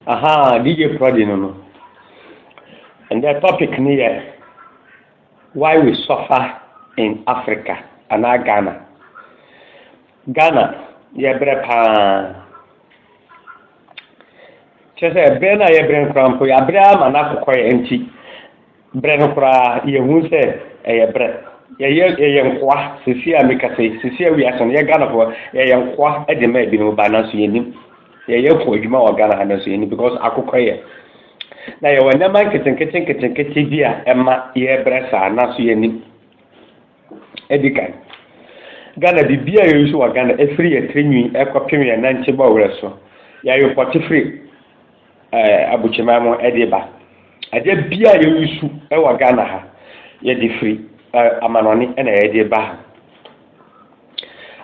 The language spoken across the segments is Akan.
Ahaa DJ Prodi no no. Ɛndɛ topic no yɛ why we suffer in Africa anaa Ghana. Ghana yɛbrɛ paa. Kyerɛ sɛ ɛbrɛ no a yɛbrɛ no koraa mpo yɛabrɛ ama no akokɔ yɛn nti. Berɛ no koraa yɛhunu sɛ ɛyɛ berɛ. Yɛyɛ yɛyɛ nkoa seesei a mekasa yi, seesei a wiase no, yɛ Ghanafoɔ, yɛyɛ nkoa de ma ebinom ba nanso yɛnnim. Yɛyɛ ko adwuma wɔ Ghana ha nanso yɛnnim because akokɔ yɛ. Na yɛwɔ nneɛma nketenkete nketenkete bi a ɛma yɛbrɛ saa nanso yɛnnim. Ɛdi kan, Ghana biribi a yɛyusu wɔ Ghana ɛfiri yɛn tiri nwi ɛkɔpem yɛn nantebɔ werɛ so, yɛayopɔte firi Abukyeman mu de ba. Adeɛ biara a yɛwusu wɔ Ghana ha, yɛde firi amanɔne na yɛde ba ha.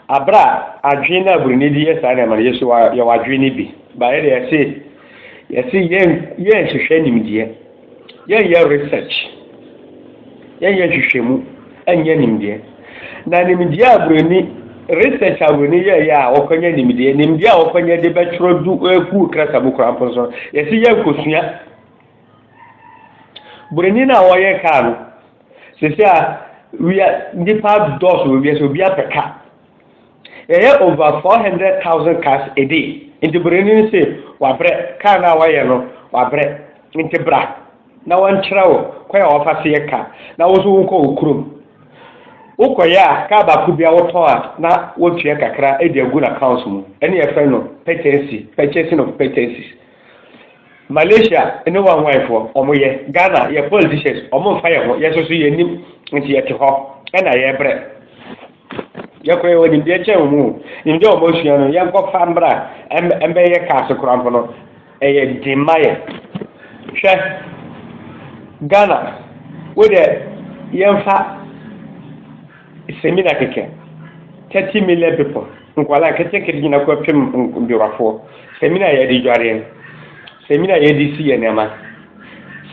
Abere a adwene no a Buroni de yɛ saa nneɛma no, yɛn nso yɛwɔ adwene no bi. Ba yɛde yɛse yɛse yɛn yɛnhwehwɛ nimdeɛ. Yɛnyɛ research, yɛnyɛ nhwehwɛmu, ɛnyɛ nimdeɛ. Na nimdeɛ a buroni, research a buroni yɛɛyɛ a wɔkɔnyɛ nimdeɛ, nimdeɛ a wɔkɔnyɛ de bɛtwerɛ du ɛkuu krasa mu koraa mpo nso, yɛsi yɛnkɔsua. Buroni no a wɔyɛ kaa no, sisi a wia nipa dɔɔso wɔ wiase obi apɛ ka. Yɛyɛ over four hundred thousand cars a day nti buroni no se wabrɛ, car no a wayɛ no wabrɛ nti bra na wɔnkyerɛ wo kwan a wɔfa so yɛ car na wo nso wonkɔ wo kurom. Wokɔyɛ a car baako bia wotɔn a na wotua kakra de agu no accounts mu ɛne yɛfrɛ no patency, purchasing of patencies. Malaysia ne wɔn anwanfoɔ wɔn yɛ, Ghana yɛ politicians wɔn mfa yɛn ho yɛn nso so yɛnnim nti yɛte hɔ ɛna yɛbrɛ. Yɛkɔ yɛwɔ nimdeɛ kyɛn wɔn o. Nimdeɛ a wɔn asua no yɛnkɔ fa mbra mbɛ yɛ ka ase kora mpo no ɛyɛ den ma yɛ. Hwɛ Ghana wo dɛ yɛnfa semina kɛkɛ 30 million people nkwadaa nketenkete nyina kɔ pem ndwuafoɔ semina yɛde dwareɛ. Samina a yɛde si yɛn nneɛma.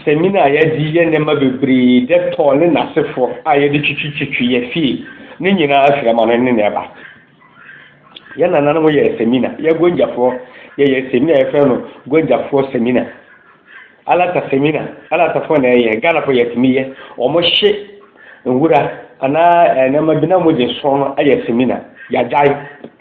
Samina a yɛde yɛ nneɛma bebree, Dettol ne n'asefo a yɛde twitwitwitwi yɛn fie, ne nyinaa firi amano ne na ɛba. Yɛn nananom yɛ samina, yɛ Gwanjafoɔ yɛyɛ samina yɛfrɛ no Gwanjafoɔ samina. Alata samina, Alatafoɔ na ɛyɛ, Ghanafoɔ yɛtumi yɛ, wɔhye nwura anaa eh, nneɛma bi na wɔde sɔn no ayɛ samina, yɛagyae.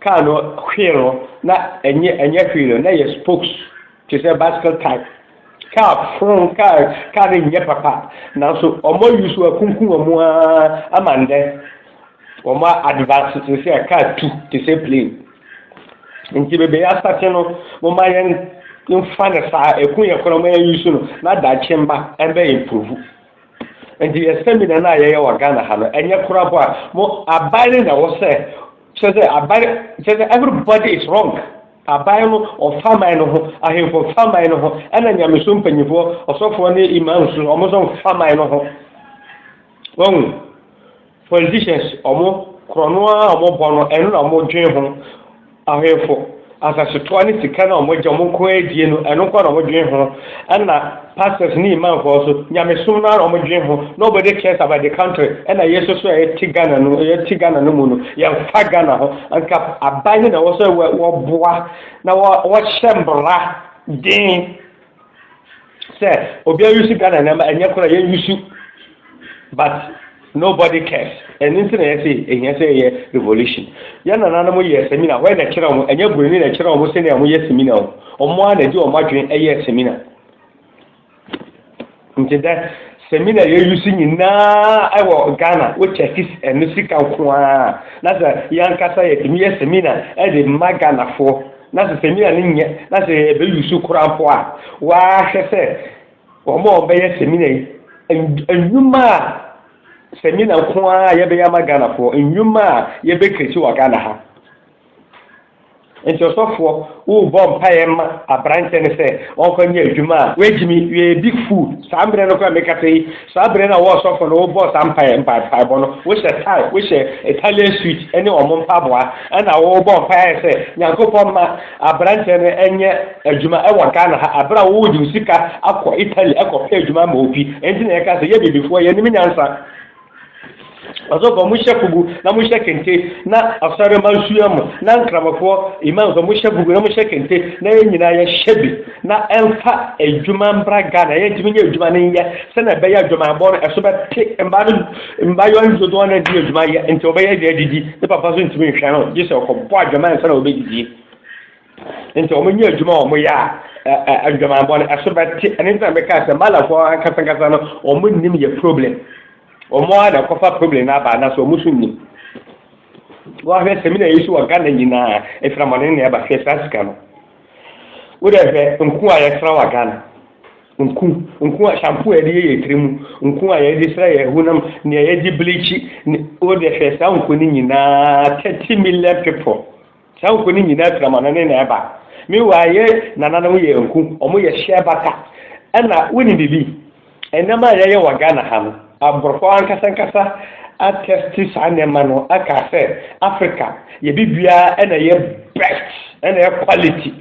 Car no wheel no na ɛnyɛ ɛnyɛ wheel no na yɛ spokes te sɛ bicycle type. Car phone car car no nyɛ papa nanso wɔn ayi so akunkum wɔn ara ama ndɛ wɔn advance te sɛ car tu te sɛ plane. Nti bebe asate no mo ma yɛn mfa no saa ɛku yɛ kora mo yɛn yi so no na daakye mma ɛbɛ improve. Nti yɛ seminar no a yɛyɛ wɔ Ghana ha no, ɛnyɛ kora bɔ a, mo aban no na wɔ sɛ, kyerɛ sɛ aban, kyerɛ sɛ everybody is wrong. Aban no ɔfa man no ho, ahemfo fa man no ho, ɛna nyamesom mpanyinfoɔ, ɔsɔfoɔ ne imams no, wɔn nso fa man no ho. Wɔn. Politicians ɔmo korɔno ara a ɔmo bɔ no ɛno na ɔmo dwen ho, ahwɛfo asasetuo ne sika no a ɔmo gye ɔmo nko ara die no ɛno nko ara na ɔmo dwen ho, ɛna pastors ne imam foɔ nso nyamesom no ara na ɔmo dwen ho, nobody cares about the country, ɛna yɛn nso so a yɛte Ghana no yɛte Ghana no mu no yɛnfa Ghana ho, nka aban no na ɛwɔ sɛ wɔboa na wɔhyɛ mmara den. sɛ obi ayusu ghana nneɛma ɛnyɛ kora yɛn yusu but nobody cares ɛno nti na yɛte ehia sɛ yɛyɛ revolution yɛn nananom yɛ seminar wɔn na ɛkyerɛ wɔn ɛnyɛ buroni na ɛkyerɛ wɔn sɛnea wɔyɛ seminar wɔn a na ɛde wɔn adwene ɛyɛ seminar. Ntsi dɛ seminar a yeuse nyinaa wɔ Ghana wɔ Turkish no sika nko ara a, na sɛ yankasa yɛtumi yɛ seminar dze ma Ghanafo na sɛ seminar no nnyɛ na sɛ yɛrebɛuse koraa mpo a, wɔahwɛ sɛ wɔn a wɔbɛyɛ seminar yi, ndwuma a seminar nko ara a yɛbɛyɛ ama Ghanafo, ndwuma a yɛbɛcreate wɔ Ghana ha. Enti ɔsɔfoɔ rebɔ mpaeɛ ma aberanteɛ no sɛ ɔnkɔ nyɛ adwuma a wagyimi yɛ big fool. Saa mmerɛ no koraa a mekasa yi, saa berɛ no a wo ɔsɔfoɔ no wobɔɔ saa mpaeɛ mpaebɔ no, wohyɛ tie, wohyɛ Italian suit ne wɔn mpaboa, ɛna worebɔ mpaeɛ sɛ Nyankopɔn mma aberanteɛ no nyɛ adwuma wɔ Ghana ha, aberɛ a wode wo sika akɔ Italy akɔpɛ adwuma ama obi. Ɛnti na yɛka sɛ yɛ Abibifoɔ yɛnim nyansa. Ɔsɔfo, mohyɛ fugu na mohyɛ kente na asɔre ma nsua mu na nkramofoɔ imam nso mohyɛ fugu na mohyɛ kente na yɛn nyinaa yɛhyɛ bi na ɛmfa adwuma mbra Ghana yɛn ntumi nyɛ adwuma no nyɛ sɛnea ɛbɛyɛ adwumayɛbɔ no ɛso bɛte mmaa no mmayewa no dodoɔ no adi adwuma yɛ nti wɔbɛyɛ deɛ adidi ne papa nso ntumi nhwɛ no gye sɛ ɔkɔbɔ adwuma nsa na wɔbɛdidie Nti wɔn nyɛ adwuma a wɔn yɛ a ɛ ɛ ndwamanbɔ no ɛso bɛ te ɛne ntina mi kaa sɛ malafo ankasa ankasa no wɔn nim yɛ problem wɔn a na kɔfa problem na aba na so wɔn so nim wɔahwɛ sɛ mi na yɛ so wɔ ghana nyinaa efiramɔne na ɛba hwɛ saa sika no wo dɛ hwɛ nko a yɛ sra wɔ ghana nku nku a shampoo a yɛde yɛ yɛ tiri mu nku a yɛde sra yɛ honam nea yɛde bleach ne wo dɛ hwɛ saa nku no nyinaa thirty million people. Saa nko no nyinaa firi amannɔne na ɛba. Meanwhile, yɛn nananom yɛ nku, wɔyɛ hyɛ bata. Ɛna wonim biribi? Nneɛma a yɛyɛ wɔ Ghana ha no, aborɔfo ankasa ankasa atɛste saa nneɛma no aka sɛ Africa yɛ biribiara na ɛyɛ best, na ɛyɛ quality.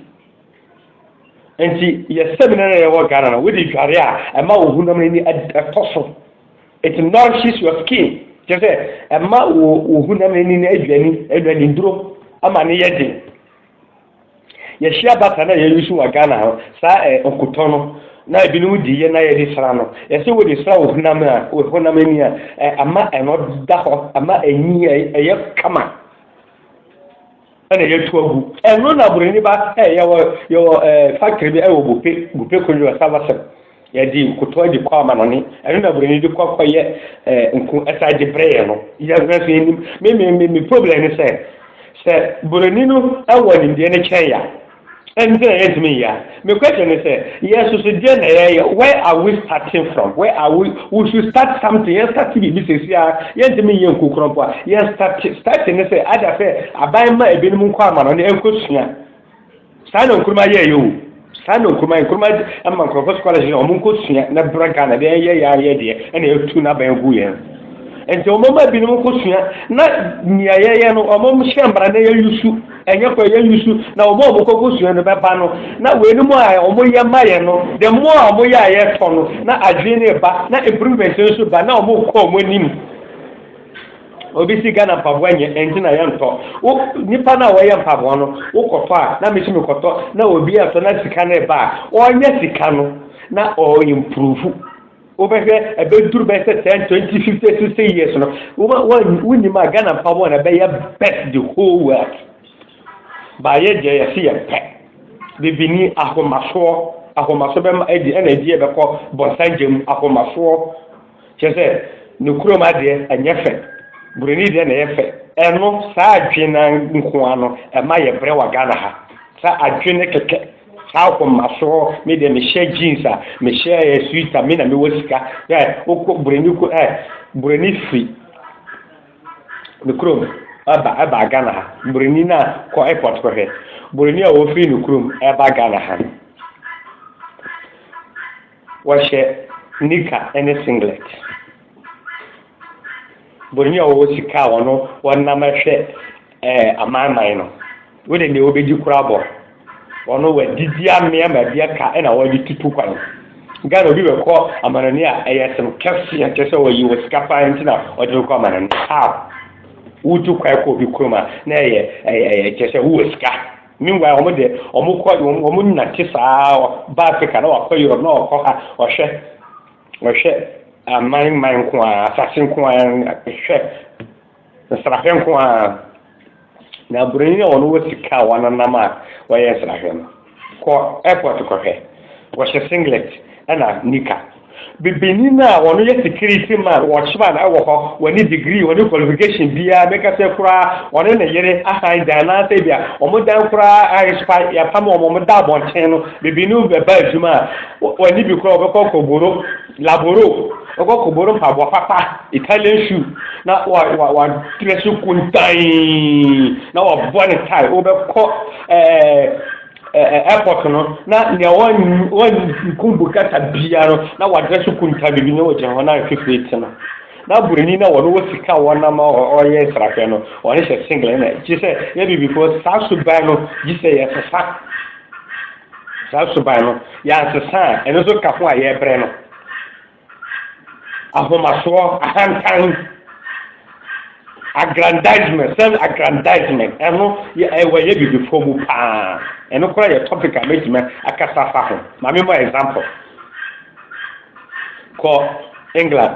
Nti yɛ seminar a yɛwɔ Ghana no, wode dware a, ɛma wo honam ani tɔ so. It nourishes your skin. Kyerɛ sɛ ɛma wo wo honam ani no aduani, aduani nnuro ama no yɛ den. Yɛhyia bata na yɛyi so wɔ Ghana hɔ, saa ɛ nkotɔ no na ebinom di yɛ na yɛde sra no. Yɛsɛ wode sra wo honam a, wo honam ani a, ɛ ama ɛno da hɔ, ama ɛnyi ɛyɛ kama. ɛna yɛatu agu. Ɛno na buroni ba sɛ yɛwɔ yɛwɔ ɛɛ factory bi ɛwɔ Bupe Bupe Kojo Asabasem yɛde nkotoa de kɔ amanɔne ɛno na buroni de kɔ kɔyɛ ɛɛ nko ɛsan de brɛ yɛn no yɛhwɛ so yɛnim me me me problem ne sɛ sɛ buroni no ɛwɔ nimdeɛ no kyɛn ya. Ɛno nti na yɛntumi nyɛ ade. Me question ne sɛ, yɛn nso so deɛn na yɛyɛ? Where are we starting from? Where are we? We should start something. Yɛn start biribi sɛsi ara, yɛntumi nyɛ nku korɔ mpo a. Yɛn start, starting ne sɛ, ada sɛ aban ma ebinom nkɔ amano ne nkɔsua. Saa na Nkrumah yɛɛyɛ o. Saa na Nkrumah, Nkrumah ama nkurɔfoɔ scholarship na wɔn nkɔsua na bra Ghana deɛ yɛn yɛ yɛn yɛ deɛ ɛna yɛtu n'aban agu yɛn. Nti wɔn ma ebinom nkɔsua na nea yɛyɛ no wɔn hyɛ mmara na yɛyusu. Ɛnyɛ kwa yɛn nniso na wɔn a wɔkɔ kosua no bɛba no, na weinom a wɔyɛ ma yɛn no, the more a wɔyɛ a yɛtɔ no, na adwene no reba, na improvement no nso ba, na wɔkɔ wɔn anim. Obi si Ghana mpaboa nyɛ, ɛnti na yɛntɔ. Wo nipa no a wɔyɛ mpaboa no, wokɔtɔ a, na mesi mekɔtɔ, na obi ɛtɔ na sika no reba a, ɔnyɛ sika no, na ɔimprove. Wobɛhwɛ ɛbɛduru bɛyɛ sɛ ten twenty fifty sixty years no woma wɔn wonim a Ghana mpa wɔn na ɛbɛyɛ best the whole world baayɛ deɛ yɛsi yɛ pɛ bibini ahomasoɔ ahomasoɔ bɛma ɛdi ɛna ɛdi yɛ bɛkɔ bɔnsangye mu ahomasoɔ kyerɛ sɛ ne kurom adeɛ ɛnyɛ fɛ buroni deɛ na ɛyɛ fɛ ɛno saa adwene nkoa no ɛma yɛ brɛ wɔ Ghana ha saa adwene kɛkɛ. Saa ahoma so hɔ me deɛ me hyɛ jeans a me hyɛ eh, sweet a me na me wɔ sika eh, wokɔ buroni ko eh, buroni firi ne kurom ɛba ɛba Ghana ha buroni na kɔ airport kɔhwɛ buroni a wɔfiri ne kurom ɛba Ghana ha no wɔhyɛ nika ne singlet buroni a wɔwɔ sika a wɔn wɔnam ɛhwɛ Eh, amanman no, wo de nea wobɛdi koraa bɔ. Wɔn wɔadidi amea ma bi aka na wɔde tutu kwan. Ghana obi bɛkɔ amanani a ɛyɛ sen kɛseɛ kyɛ sɛ wɔyi wɔ sika paa nti na wɔde no kɔ amanani. How? Wotu kwan kɔ obi kurom a na ɛyɛ ɛyɛ kyɛ sɛ wowɔ sika. Meanwhile wɔn de wɔn kɔ wɔn wɔn nante saa ba Africa na wakɔ Europe na ɔkɔ ha ɔhwɛ ɔhwɛ aman man nko ara asase nko ara hwɛ Nsrahwɛ nko ara. Na Buronyi a ɔno wɔ sika a ɔanenam a ɔyɛ nsrahwɛ no kɔ airport kɔhwɛ. Wɔhyɛ singlet na knicker. Bibinyi no a ɔno yɛ security man, watchman wɔ hɔ, ɔnye degree, ɔnye qualification biara, mekã sɛ koraa ɔne ne yer asan dan anaasɛ bi a wɔn dan koraa ayɛ spa, yɛapam wɔn, wɔda abɔnten no, bibinyi no bɛba edwuma a, ɔnye bi koraa ɔbɛkɔ akɔboro. Laboro, ɔkɔ kɔboro mpaboa papa, Italian shoe, na wa wa wa dress kuntan, na wa bɔ ne tie, o bɛ kɔ ɛɛ ɛɛ airport no, na nea wa wa kun bukata bia no, na wa dress kuntan bibi na wa gyina hɔ na afifiri ti no. Na buroni na wɔn wɔ sika wɔn nam ɔyɛ nsrahwɛ no, wɔn hyɛ singlet na gye sɛ yɛ bibifoɔ saa suban no gye sɛ yɛ sesa. Saa suban no, yɛansesa a, ɛno nso ka ho a yɛbrɛ no. Ahomasoɔ, ahantan, aggrandizement, self aggrandizement, ɛno ɛwɔ yɛ bibifoɔ mu paa. Ɛno koraa yɛ topic a mɛtumi akasa fa ho. Ma me mɔ example. Kɔ England.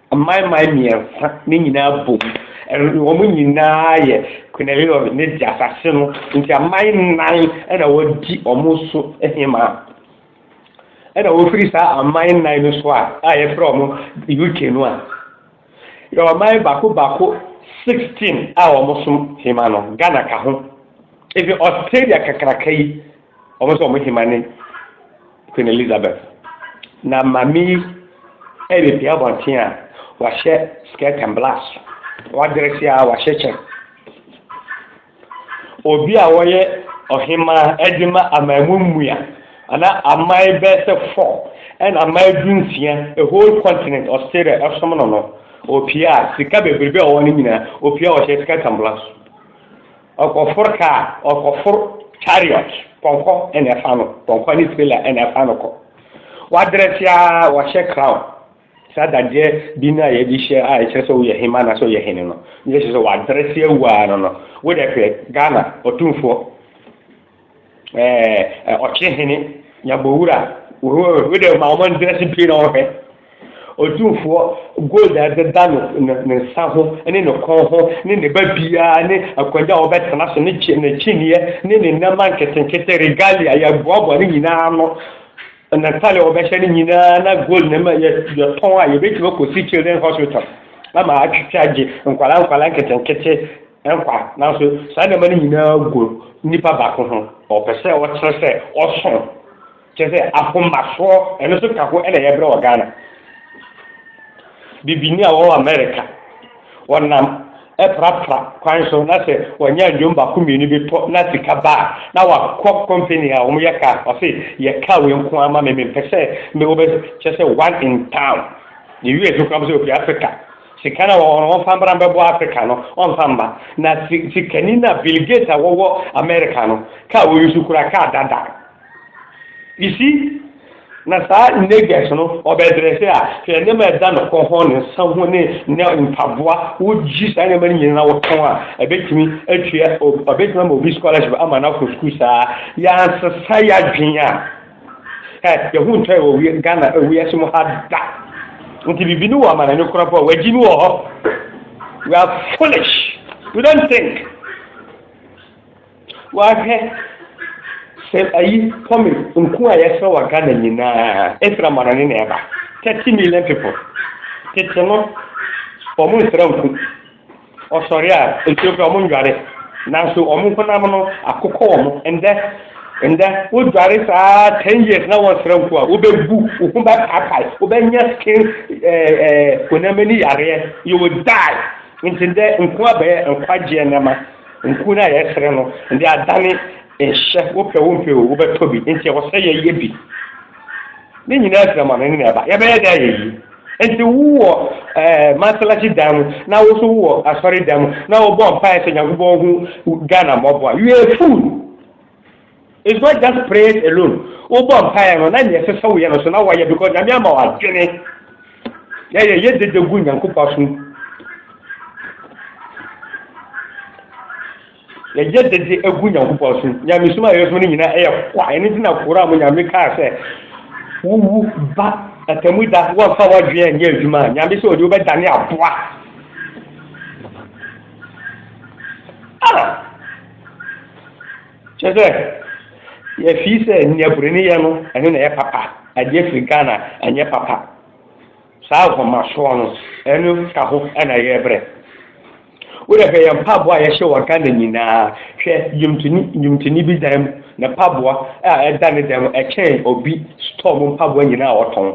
Amanaman mmiɛnsa no nyinaa bom, wɔn nyinaa yɛ Quirinal ne de asase no nti aman nnan na wɔdi wɔn so hemaa. Ɛna wɔfiri saa aman nnan no so a a yɛfrɛ wɔn UK no a, yɛwɔ aman baako baako 16 a wɔsom hema no, Ghana ka ho. Ebi Australia kakraka yi Wɔn sɛ wɔn hema ne Queen Elizabeth. Na maame yi repia abɔnten a wahyɛ skirt and blouse. Wadrɛse a wahyɛ kyɛ. Obi a wɔyɛ ɔhemaa de ma aman mu mmua ana aman bɛyɛ sɛ fɔ ɛna aman du nsia a whole continent Australia ɛsom no no. Opia sika bebrebe a ɔwɔ no nyinaa opia ɔhyɛ skirt and blouse. Ɔkɔfor kaa, ɔkɔfor chariot, pɔnkɔ na ɛfa no, pɔnkɔ ne trailer na ɛfa no kɔ. Wadress ara, wahyɛ crown, saa dadeɛ bi no a yɛde hyɛ a ɛkyerɛ sɛ woyɛ hemma anaasɛ woyɛ hene no, ne kyerɛ sɛ wadress awu ara no no. Wo deɛ hwɛ Ghana ɔtumfoɔ. ɛɛ ɔkyere hene nyabɔwura wode ma wɔn ntina si pii na ɔhwɛ ɔtumfoɔ gold a ɛdeda no ne nsa ho ne ne kɔn ho ne ne ba biara ne akwanya a wɔbɛtena so ne kyi ne kyiniiɛ ne ne nneɛma nketenkete regalia yɛboaboa ne nyinaa no na ntale a wɔbɛhyɛ ne nyinaa na gold ne ma yɛtɔn a yɛbɛtumi akɔsi children hospital ama atwitwa agye nkwala nkwala nketenkete nkwa. Nanso saa nneɛma no nyinaa gu nipa baako ho. Ɔpɛ sɛ ɔkyerɛ sɛ ɔso. Kyerɛ sɛ ahomasoɔ, ɛno nso ka ho na yɛbrɛ wɔ Ghana. Bibini a ɔwɔ Amerika, ɔnam ɛprapra kwan so na sɛ ɔnya nnwom baako mmienu bi tɔ na sika ba a, na wakɔ company a wɔyɛ kaa, ɔse yɛ kaa wei nko ara ma me, mempɛ sɛ me wobɛ kyerɛ sɛ one in town. Yɛ US koraa sɛ ofi Africa Sika no a wɔfa mbra mbɛboa Africa no ɔnfa mma. Na sikani no a Bill Gates a wɔwɔ America no kaa a oyi so kura kaa dada. You see? Na saa Negus no ɔbɛdrɛse a hwɛ nneɛma a ɛda no kɔn ho, ne nsa ho ne ne mpaboa, wogye saa nneɛma no nyina na wɔtɔn a ɛbɛtumi atua, ɔbɛtumi ama obi scholarship ama no akɔ sukuu saa. Yɛansesa yɛadwen a. Ɛ yɛho ntɔe wɔ wie Ghana wiase mu ha da. Nti bibi no wɔ amanani korɔ pɔ wagyi no wɔ hɔ. We are foolish. We don't think. Wahwɛ sɛ ayi pɔmi nko a yɛsrɛ wɔ Ghana nyinaa ɛfiri amanani na ɛba. 30 million people. Tete no wɔn nsrɛ nko. Wɔsɔre a, nkyerɛ kura wɔn nnware. Nanso wɔn honam no akokɔ wɔn. Ndɛ, ndɛ wodware saa ten years na wɔnsra nku a, wobɛbu, wo ho bɛpaapae, wobɛnya skin ɛɛ ɛɛ honam ani yareɛ, you will die. Nti ndɛ nku abɛyɛ nkwagyeɛ nneɛma. Nku no a yɛsere no, ndɛ adane nhyɛ, wopɛ wompɛ o, wobɛtɔ bi. Nti ɛwɔ sɛ yɛyɛ bi. Ne nyinaa firi amanɔne na ɛba. Yɛbɛyɛ dɛn ayɛ yie? Enti wo wɔ masalasi dan mu na wo so wo wɔ asɔre dan mu na wo bɔ mpae sɛ Nyankopɔn hu Ghana mmɔbɔ a, you are a fool. It's not just prayers alone. Wo bɔ mpae no na nea ɛsɛ sɛ woyɛ no so na woayɛ because Nyame ama wo adwene. Yɛ yɛ yɛ dede gu Nyankopɔn so. Yɛyɛ de de agu Nyankopɔn so. Nyamesom a yɛsom no nyina ɛyɛ kwa. Ɛno nti na Koran mu Nyame kaa sɛ, wowu ba atamu da wɔmfa w'adwene anyɛ adwuma a, Nyame sɛ ɔde wobɛdane aboa. Ah! Kyɛ sɛ, yɛfii sɛ nea Buroni yɛ no, ɛno na ɛyɛ papa. Adeɛ firi Ghana, ɛnyɛ papa. Saa ahomasoɔ no, ɛno ka ho na yɛbrɛ. Wo deɛ hwɛ yɛn mpaboa a yɛhyɛ wɔ Ghana nyinaa, hwɛ dwomtoni dwomtoni bi dan mu, ne mpaboa a ɛda ne dan mu ɛkyɛn obi store mu mpaboa nyinaa a ɔtɔn.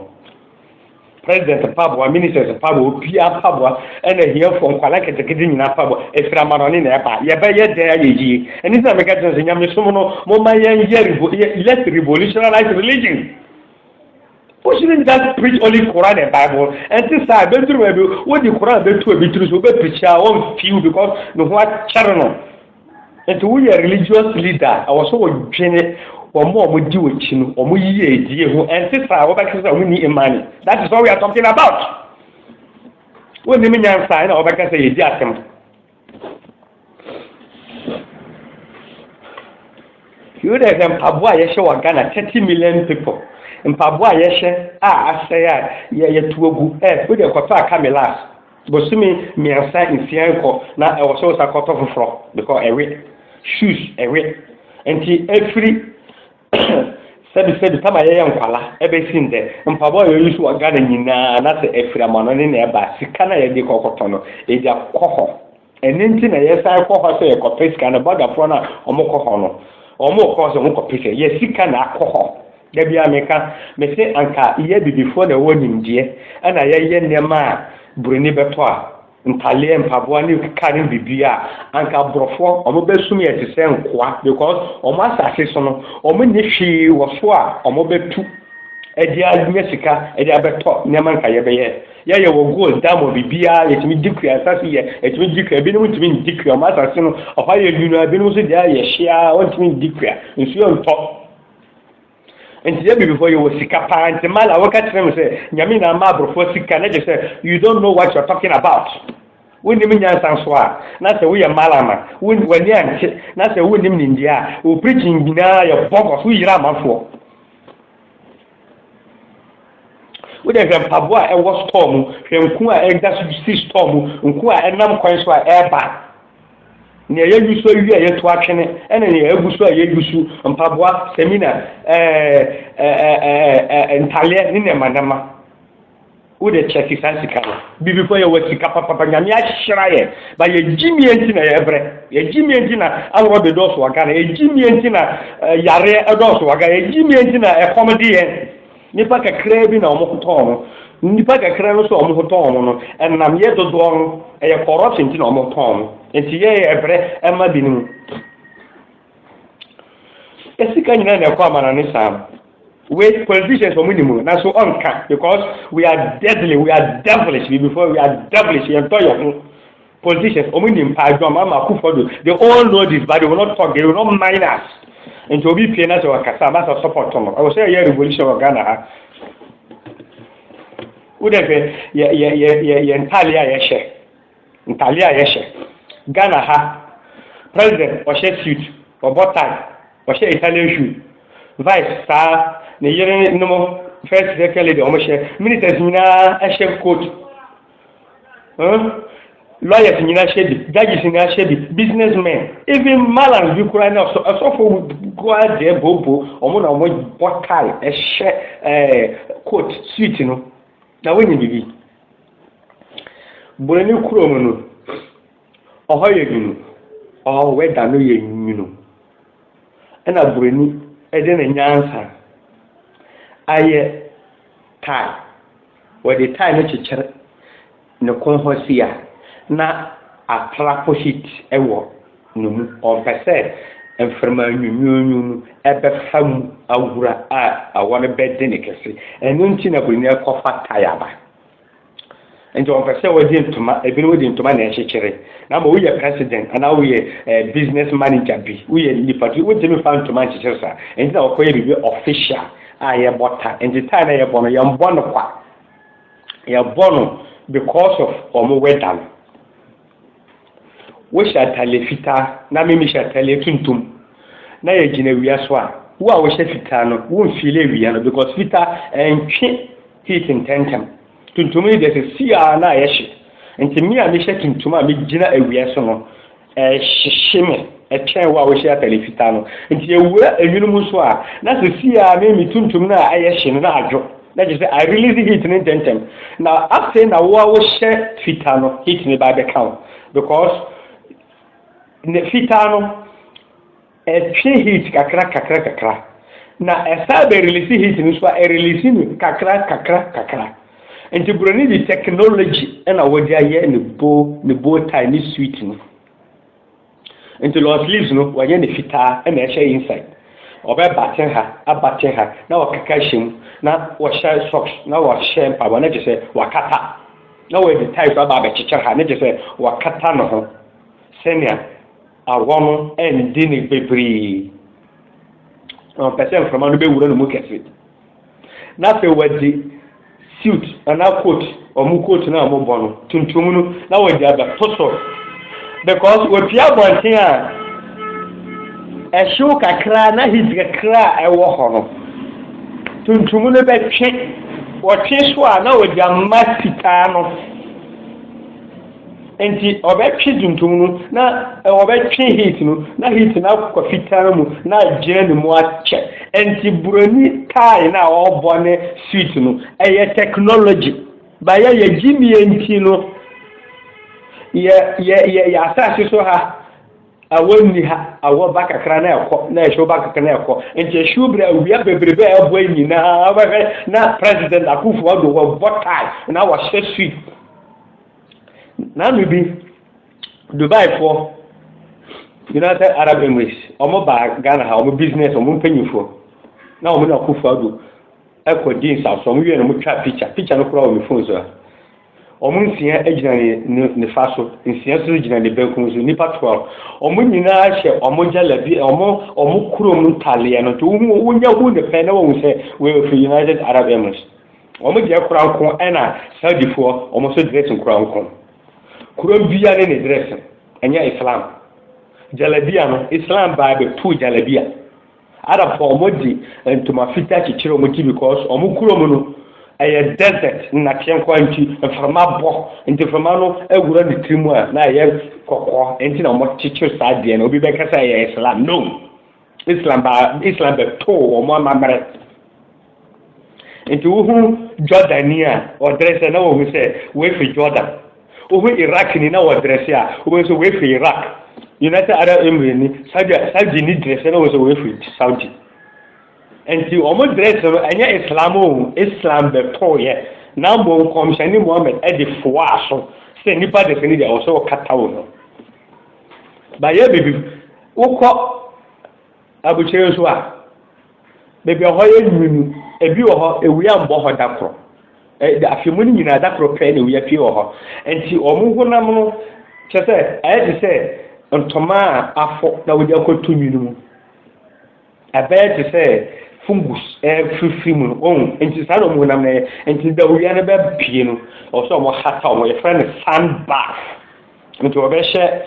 President mpaboa, ministers mpaboa, obiara mpaboa, ɛna ahiafoɔ nkwadaa nketenkete nyinaa mpaboa, ɛfiri amanɔne na ɛba. Yɛbɛyɛ dɛn ayɛ yie? Ɛno nti na meka kyerɛ sɛ nyamesom no, momma yɛnyɛ, let's revolutionize religion. Wo shouldn't just preach only Quran and Bible. Ɛnte saa ɛbɛduru baabi wode Quran bɛtu obi tiri so wobɛpirikyi a ɔmfiw because ne ho akyɛre no. Nti woyɛ religious leader ɛwɔ so wodwene wɔn a wɔdi wɔn akyi no wɔn yie die ho. Ɛnte saa wɔbɛka sɛ wonni imani. That is what we are talking about. Wonnim nyansa na wɔbɛka sɛ yɛdi asɛm. You know the mpaboa a yɛhyɛ wɔ Ghana thirty million people mpaboa a yɛhyɛ a asɛe a yɛyɛ tu agu ɛ eh, wo deɛ kɔtɔ aka me last bosome mmiɛnsa nsia nkɔ na ɛwɔ sɛ wosa kɔtɔ foforɔ because ɛwe shoes ɛwe nti ɛfiri sɛbi sɛbi tama yɛyɛ nkwala ɛbɛsi ndɛ mpaboa a yɛyi so wɔ ghana nyinaa anasɛ ɛfiri amanɔne na ɛba sika no a yɛde kɔkɔtɔ no ɛgya kɔ hɔ ɛno nti na yɛsan kɔ hɔ sɛ yɛkɔpɛ sika no bɔdafoɔ no a wɔkɔ hɔ no wɔkɔ sɛ wɔkɔpɛ sika yɛ sika na akɔ hɔ da bia meka mese anka yɛ bibifoɔ na ɛwɔ nimdeɛ ɛna yɛyɛ nneɛma a buroni bɛtɔ a ntadeɛ, mpaboa ne kar ne biribiara a, anka aborɔfoɔ wɔbɛsum yɛn te sɛ nkoa because wɔn asase so no, wɔnni hwee wɔ so a wɔbɛtu de anya sika de abɛtɔ nneɛma nka yɛbɛyɛ. Yɛyɛ wɔ gold, diamond, biribiara yɛtumi di kua, asase yɛ yɛtumi di kua, ebinom ntumi ndi kua, wɔn asase no ɔhɔ ayɛ nwunu, ebinom nso deɛ ayɛ hyeaa wɔntumi ndi kua, nsuo ntɔ. Nti yɛ bibifoɔ yɛ wɔ sika paa nti mala woka kyerɛ me sɛ nyame na ama aborofoɔ sika na gye sɛ you don't know what you're talking about wonim nyansa nso a na sɛ woyɛ mala ma w'ani ante na sɛ wonim nimdeɛ a wo preaching nyinaa yɛ bɔgɔs woyira amanfoɔ wode hwɛ mpaboa a ɛwɔ store mu hwɛ nku a ɛda so si store mu nku a ɛnam kwan so a ɛreba Nea yɛagu so awie a yɛto atwene ne nea yɛagu so a yɛagu so, mpaboa, samina, ntadeɛ ne nneɛma nneɛma. Wode kyɛke saa sika no. Bibifo yɛ wɔ sika papapa, Nyame ahyira yɛ, ba yɛgye mie nti na yɛbrɛ. Yɛgye mie nti na aworɔ de dɔɔso wɔ Ghana, yɛgye mie nti na yareɛ dɔɔso wɔ Ghana, yɛgye mie nti na ɛkɔm de yɛn. Nnipa kakraa bi na wɔn ho tɔɔ no. Nnipa kakraa no nso a wɔn ho tɔɔ wɔn no, ɛnam yɛ dodoɔ no, ɛyɛ corruption nti na wɔn ho tɔɔ wɔn. Nti yɛ yɛ brɛ ɛma binom. Esika nyinaa na ɛkɔ amana ne saa no. Wei politicians wɔn nim na so ɔnka because we are deadly, we are devilish, before we are devilish, yɛntɔ yɛn ho. Politicians wɔn nim paa adwuma ama akufo do they all know this but they will not talk they will not mind us nti obi pie na sɛ wakasa ama sɛ support no ɛwɔ sɛ ɛyɛ revolution wɔ Ghana ha wodɛ hwɛ yɛ yɛ yɛ yɛ yɛ ntaale a yɛhyɛ ntaale a yɛhyɛ Ghana ha president ɔhyɛ suit ɔbɔ tie ɔhyɛ Italian shoe vice saa ne yere nom first second lady wɔn hyɛ ministers nyinaa ɛhyɛ coat. Huh? Lawyers nyinaa hyɛ bi, judges nyinaa hyɛ bi, businessmen, even malams bi koraa na ɛsɔfo koraa deɛ bobo, wɔn na wɔn bɔ tie, ɛhyɛ ɛɛ eh, coat, suit no, na wɔnyɛ biribi. Buroni kurom no, ɔhɔ yɛ nwunu, ɔhɔ wɛda no yɛ nwunu, ɛna buroni ɛde ne nyansa ayɛ tie. Wɔde tae no kyekyere ne kɔn hɔ si a, na apra pohyit wɔ ne mu. Ɔmpɛ sɛ mframa nwunwuunwuu no bɛfa mu awura a awɔ no bɛde no kɛse. Ɛno nti na buroni no kɔfa tae aba. Enti wɔmpɛ sɛ wɔde ntoma, ebinom de ntoma na ɛkyekyere. Na ama woyɛ president anaa woyɛ eh, business manager bi, woyɛ nipa bi, wontumi mfa ntoma nkyekyere saa. Enti na wɔkɔyɛ biribi official. a yɛbɔ ta nti ta na yɛbɔ no yɛnbɔ no kwa yɛbɔ no because of wɔn wɛda no wohyɛ atale fitaa na mimi hyɛ atale tuntum na yɛgyina wia so a wo a wohyɛ fitaa no wonfile wia no because fitaa ɛntwe heat ntɛntɛm tuntum yi deɛ sɛ si a na yɛhye nti me a mehyɛ tuntum a megyina awia so no Ɛhyehye me kyɛn wo a wohyɛ atade fitaa no. Nti yɛwura enwunu mu nso a, na sesii ara me me tuntum no a ɛyɛ hye no na adwo. Na kyerɛ sɛ I release heat no ntɛntɛm. Na afei na wo a wohyɛ fitaa no heat no bɛba abɛka wo because ne fitaa no. Ɛtwe heat kakra kakra kakra na ɛsan bɛ release heat no nso a ɛ release no kakra kakra kakra. Nti broni de technology na wɔde ayɛ ne bow ne bow tie ne suit no. Nti long sleeves no wɔayɛ no fitaa na ɛhyɛ inside. Ɔbɛ button ha a button ha na wɔkeka hyɛ mu na wɔhyɛ socks na wɔhyɛ mpaboa na kyerɛ sɛ wakata na wɔde tie so aba abɛkyekyere ha na kyerɛ sɛ wakata ne ho sɛnea Awɔ no ɛnde ne bebree, na ɔpɛ sɛ mframa no bɛwura no mu kɛse. Na afei wɔde suit anaa coat, wɔn coat no a wɔbɔ no, tuntum no, na wɔde abɛto so. Because wɔpie abɔnten a, ɛhyew kakra na heat kakra a ɛwɔ hɔ no, tuntum no bɛtwe, wɔtwe so a na wɔde ama fitaa no. Nti ɔbɛtwe tuntum no na ɔbɛtwe heat no na heat no akɔ fitaa mu na agyina ne mu akyɛ. Nti buroni tie no a ɔrebɔ ne sweet no ɛyɛ technology. Bayɛ yɛgye nie nti no yɛ yɛ yɛ yɛ asase so ha awɔ nni ha awɔ ba kakra na ɛkɔ na ɛhyew ba kakra na ɛkɔ nti ɛhyew berɛ awia bebrebe a ɛbɔ nyinaa wobɛhwɛ na president Akufo-Addo wɔbɔ tie na wɔhyɛ suit Na me bi Dubai foɔ United Arab Emirates wɔn baa Ghana ha wɔn business wɔn mpanyinfoɔ na wɔn na Akufo Addo ɛkɔ di nsaso wɔn wie na wɔn twa picture picture no koraa wɔ me phone so ha wɔn nsia gyina ne ne ne fa so nsia nso gyina ne benkum so nipa twelve wɔn nyinaa hyɛ wɔn gyalabi wɔn wɔn kurom ntaleɛ no nti wɔn wɔn nya hu ne pɛn na wɔn sɛ wɔyɛ firi United Arab Emirates. Wɔn deɛ koranko ɛna Saudifoɔ wɔn nso dressing koranko. Koran biara ne ne dressing ɛnyɛ Islam. Jalabia no Islam baa bɛtuu jalabia. Arabfoɔ wɔn de ntoma fitaa kyekyere wɔn ti because wɔn kurom no ɛyɛ desert nnateɛ nkoa nti mframa bɔ nti mframa no awura ne tiri mu a na ɛyɛ kɔkɔɔ nti na wɔn kyekyere saa deɛ no obi bɛka sɛ ɛyɛ Islam no Islam baa Islam bɛtoo wɔn amammerɛ. Nti wohu Jordanni a, ɔdrɛse na wɔhu sɛ wɔafi Jordan. Wohu Iraqni na ɔdrɛse a, wɔhu sɛ wɔafi Iraq. United Arab Emirates ni, Saudi, Saudi ni drɛse na wɔhu sɛ wɔafi Saudi. Nti wɔn drɛse no, ɛnyɛ Islam o, Islam bɛtooyɛ. Na mmom nkɔmhyɛne Muhammad de foaa so sɛ nnipa drɛse no deɛ ɔsɛ ɔkata wo no. Bayɛ bibi, wokɔ Abukyire nso a, baabi a ɛhɔ yɛ nwunu no, ebi wɔ hɔ, ewia mbɔ hɔ da koro. Ɛde afe mu no nyinaa da koro pɛɛ na ewia pie wɔ hɔ. Nti wɔn honam no kyerɛ sɛ ayɛ te sɛ ntoma a afɔ na wɔde akɔto nwunu mu. Ɛbɛyɛ te sɛ fungus ɛfirifiri mu no wɔn nti saa na wɔn honam no yɛ nti da owia no bɛpie no ɔsɛ wɔn hata wɔn yɛfrɛ no sun bath nti wɔbɛhyɛ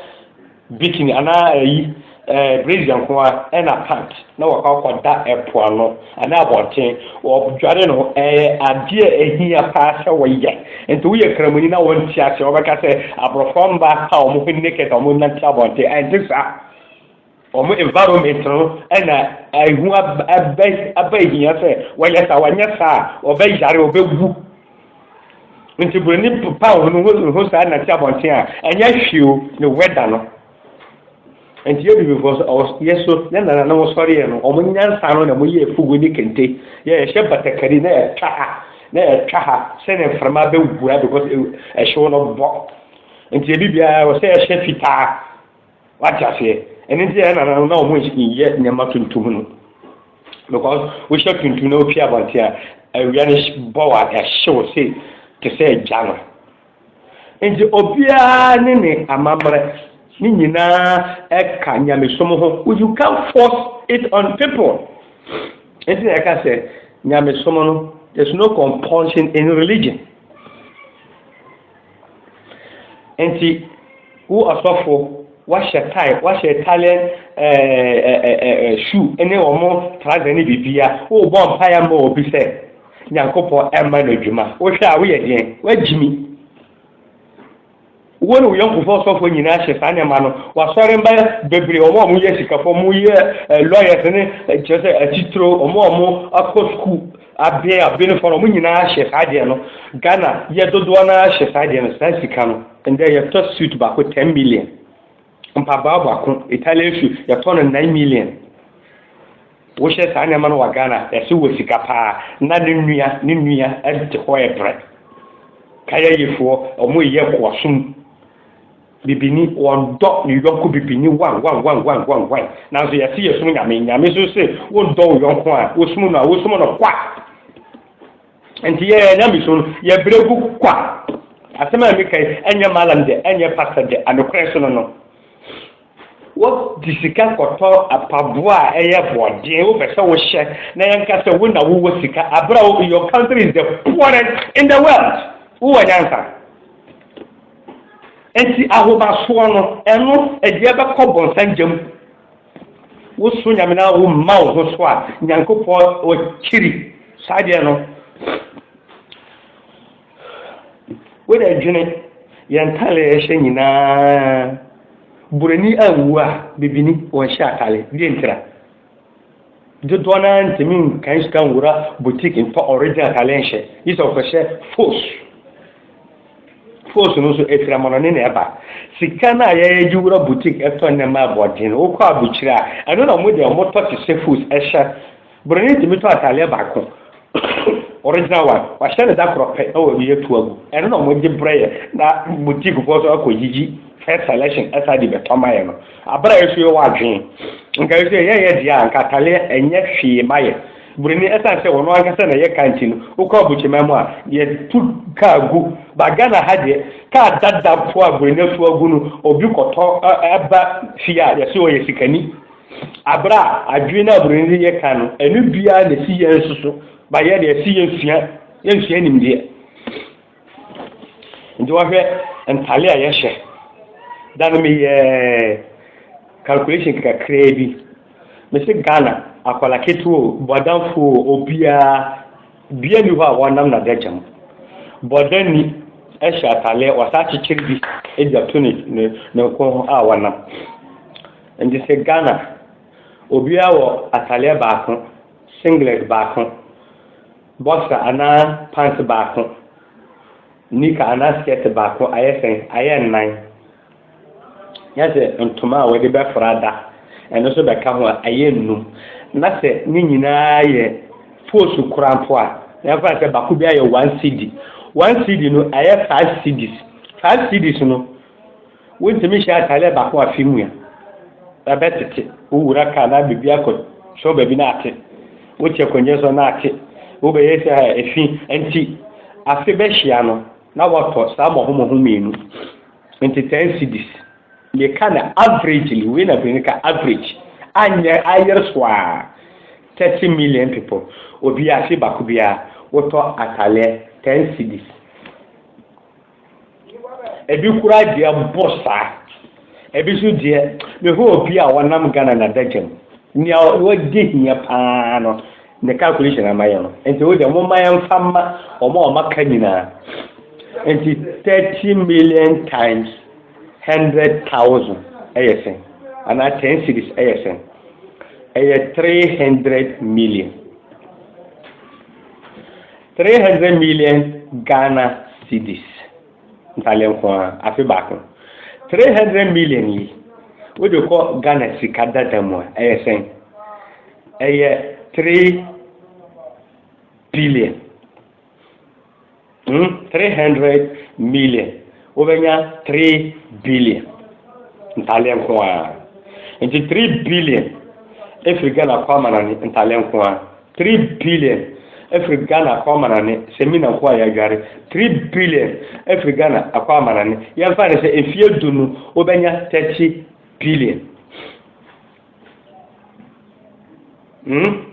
Bikini anaa ayi ɛɛ brazier nko ara ɛna pant na wɔkɔ akɔ da ɛpo ano anaa abɔnten wɔ dware no ɛyɛ adeɛ ɛhia paa sɛ wɔyɛ nti woyɛ kramoni na wɔn ti ase wɔbɛka sɛ aborɔfoɔ mba a wɔn ho naked wɔn nante abɔnten ɛnte saa wɔn environment no ɛna ɛho abɛ abɛ hia sɛ wɔyɛ saa wɔnyɛ saa wɔbɛ yare wɔbɛ wu nti buroni popa wɔn ho wɔn ho saa nante abɔnten a ɛnyɛ hwee o ne wɛda no nti yɛ bibifoɔ so ɔwɔ yɛ so yɛ nana na wɔsɔre yɛ no wɔn nyansa no na wɔn yɛ efugu ne kente yɛ yɛhyɛ batakari na yɛtwa ha na yɛtwa ha sɛnɛ mframa bɛwura because ɛhyew no bɔ nti ebi biara wɔsɛ yɛhyɛ fitaa. Wate aseɛ? Ɛno nti na yɛn nananom na wɔn nyɛ nneɛma tuntum no. Because wohyɛ tuntum na wopie abɔnten a, awia no bɔ wo a ɛhyew se te sɛ gya no. Nti obiara ne ne amammerɛ ne nyinaa ɛka nyamesom ho. You can't force it on people. Nti na yɛka sɛ nyamesom no, there's no compulsion in religion. Enti, wo ɔsɔfo, woahyɛ tae, woahyɛ Italian shoe ne wɔn trouser ne biribiara, worebɔ mpae ama obi sɛ Nyankopɔn ɛmma no adwuma. Wohwɛ a woyɛ deɛn? Woagyimi. Wo ne wo yɔnkofoɔ ɔsɔfoɔ nyinaa hyɛ saa nneɛma no. Wɔasɔre mba bebree, wɔn a wɔyɛ sikafoɔ, wɔyɛ lawyers ne kyerɛ sɛ atitire, wɔn a wɔakɔ sukuu Aben aben fɔno ɔmo nyinaa hyɛ saa deɛ no Ghana yɛ dodoɔ no ara hyɛ saa deɛ no saa sika no ndɛ yɛtɔ suit baako ten million mpaboa baako Italian shoe yɛtɔ no nine million wohyɛ saa nneɛma no wɔ Ghana yɛse wɔ sika paa na ne nua ne nua ɛte hɔ ɛbrɛ kayɛ yefoɔ ɔmo yɛ koɔsom Bibini, wɔdɔ ne yɔnko bibini wawawawawawae, nanso yɛse yɛsom Nyame, Nyame nso se wondɔ wo yɔnko a wosom no a, wosom no kwa. Nti yɛ Nyamesom no, yɛbrɛ gu kwa. Asɛm a meka yi, ɛnyɛ Mallam dɛ, ɛnyɛ Pastor dɛ, anokorɛ so no no, wo de sika kɔtɔ apaboa a ɛyɛ bɔɔden, wo pɛ sɛ wo hyɛ, na yɛnka sɛ wo na wo wɔ sika, aberɛ a your country is the poorest in the world, wo wɔ nyansa? Enti ahobasoɔ no, ɛno ɛdeɛ bɛkɔ bɔnsa gya mu. Woso Nyame na womma wo ho so a, Nyankopɔn ɔkyiri saa deɛ no. Wode dwene yɛn ntale ɛhyɛ nyinaa, buroni anwu a, bibini ɔnhyɛ atale, deɛ ntira? Dodoɔ no ara ntumi nkan sika nwura boutique ntɔ original atare nhyɛ, gye sɛ wɔkɔhyɛ fos. Fos no nso ɛfiri amanɔne na ɛba. Sika no a yɛgye wura boutique tɔ nneɛma aboɔden no, wokɔ abukyire a, ɛno na wɔn deɛ wɔtɔ te sɛ fos hyɛ. Buroni ntumi tɔ atareɛ baako. Original one, wɔahyɛ no da korɔ pɛ na wɔde atu agu. Ɛno na wɔgye brɛ yɛ na boutiquefoɔ nso akɔ yiyi first selection ɛsan de bɛtɔ ma yɛ no. Abere a yɛso yɛ wɔ adwene. Nka yɛso yɛ yɛyɛ deɛ a nka ataleɛ ɛnyɛ hwee ma yɛ. Buroni ɛsan sɛ wɔn ankasa na ɛyɛ kaa nti no, wokɔ abukyeman mu a, yɛtu kaa gu. Ba Ghana ha deɛ, kaa dada mpo a buroni atu agu no, obi kɔtɔ ɛba fie a, yɛso ɔyɛ sikani. Aber a adwen na mbrɛ yɛdze yɛ kan no, ɛno bi ara na esi yɛn nso so ma yɛn dɛ ɛsɛ yesua, yesua nyimdzee. Ntsi wɔhwɛ ntar a yɛhyɛ. Da no meyɛɛ calculation kakraa bi. Mese Ghana, akwadaa ketewa o, bɔdamfo o, obiara, bea nni hɔ a wɔnam na dze akyɛ mu. Bɔdani hyɛ ataleɛ, wɔsan akyekyere bi de ato ne ne ne nko ho a wɔnam. Nti sɛ Ghana obiara wɔ atadeɛ baako, singlet baako, boxer anaa pants baako, knicker anaa skirt baako ayɛ sɛn? Ayɛ nnan. Na sɛ ntoma a wɔde bɛfra da, ɛno nso bɛka ho a, ayɛ nnum. Na sɛ ne nyinaa yɛ foosu kora mpo a, na yɛmfa no sɛ baako biara yɛ one cedi. One cedi no, ayɛ five cedis. Five cedis no, Wontumi nhyɛ atadeɛ baako afe mu a, ɛbɛtete. Wowura kaa na biribi akɔtɔ baabi na ate. Wote akonnwa so na ate. Wobɛyɛ sɛ efi nti afe bɛhyia no na wɔtɔ saa mmɔhommɔho mmienu. Nti ten cedis. Meka no averagely, wei na Broni ka average. Anyɛ ayere so a 30 million people, obi afe baako biara wotɔ ataleɛ ten cedis. Ebi koraa deɛ mpo saa. Ebi nso deɛ mehwɛ obi a ɔnam Ghana na adagya mu. Nea wagye hia paa no ne calculation ama yɛ no. Nti wo deɛ mo mma yɛn fa ma wɔn a wɔaka nyinaa. Nti thirty million times hundred thousand ɛyɛ sɛn? Anaa ten series ɛyɛ sɛn? Ɛyɛ three hundred million. Three hundred million Ghana cedis ntade nko ara, afe baako. Three hundred million yi, wode kɔ Ghana sika dada mu a, ɛyɛ sɛn? Ɛyɛ three billion. Hmm, three hundred million. Wobɛnya three billion ntadeɛ nko ara. Nti three billion ɛfiri Ghana kɔ amanane ntadeɛ nko ara. Three billion ɛfiri Ghana kɔ amanane sɛ mina nko a yɛadware. Three billion ɛfiri Ghana akɔ amanane. Yɛmfa no sɛ mfie du no wobɛnya thirty billion. Hmm?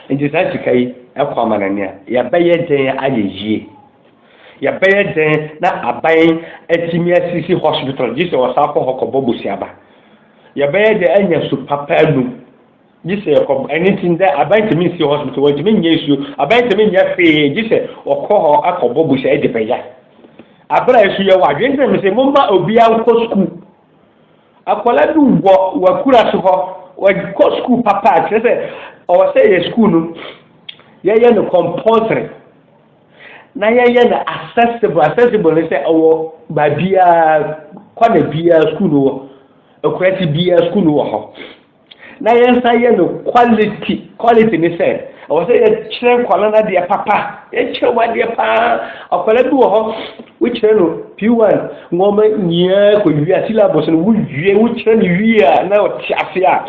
Enti saa sika yi kɔ amanɔne a, yɛbɛyɛ dɛn ayɛ yie? Yɛbɛyɛ dɛn na aban atumi asisi hospital gye sɛ wɔsan kɔ hɔ kɔbɔ busuaba? Yɛbɛyɛ dɛn anya su papa anum gye sɛ yɛkɔ ɛno nti ndɛ aban ntumi nsi hospital wɔntumi nyɛ nsuo aban ntumi nyɛ hwee gye sɛ wɔkɔ hɔ akɔbɔ busua de bɛya abere a ɛso yɛ wɔ adwene sɛ mesɛ momma obiara nkɔ sukuu Akwadaa bi wɔ wakura so hɔ, wɔkɔ sukuu papa kyerɛ sɛ ɔwɔ sɛ yɛ sukuu no yɛyɛ no compulsory na yɛyɛ no accessible accessible ne sɛ ɔwɔ baabiara kwana biara sukuu no wɔ akurasi biara sukuu no wɔ hɔ. na yɛnsa yɛ no quality quality ne sɛ ɛwɔ sɛ yɛkyerɛ nkwadaa no adeɛ papa yɛkyerɛ wɔn adeɛ paa akwadaa bi wɔ hɔ wokyerɛ no p1 nneɛma nyinaa kɔ wie a syllabus no wowie wokyerɛ no wie a na ɔte ase a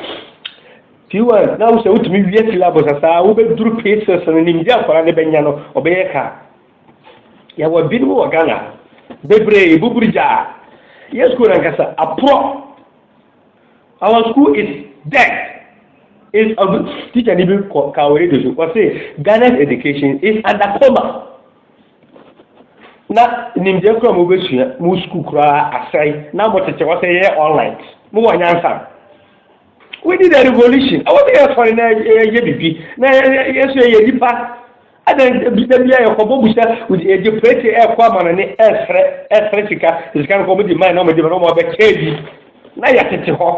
p1 na wosɛ wotumi wie syllabus asaa wobɛduru p6 no nimdeɛ akwadaa no bɛnya no ɔbɛyɛ ka yɛwɔ binom wɔ ghana bebree buburu gyaa yɛ sukuu no ankasa aporɔ our school is dead is ɔbi teacher ni bi kɔ ka wɔ radio so ɔse ghana's education is under coma na nimdeɛ kura mo bɛsua mo sukuu koraa asɛe na mo tete wɔ sɛ yɛyɛ online mo wɔ nyansa we need a revolution ɛwɔ sɛ yɛsɔre na yɛyɛ biribi na yɛsɛ yɛ nipa Adɛn nti bi da bi a yɛkɔbɔ bu sɛ yɛgye prete ɛrekɔ amanɔne ɛresrɛ ɛresrɛ sika sika no kɔ wɔde mae na wɔde ma na wɔn abɛkyɛ bi na yɛtete hɔ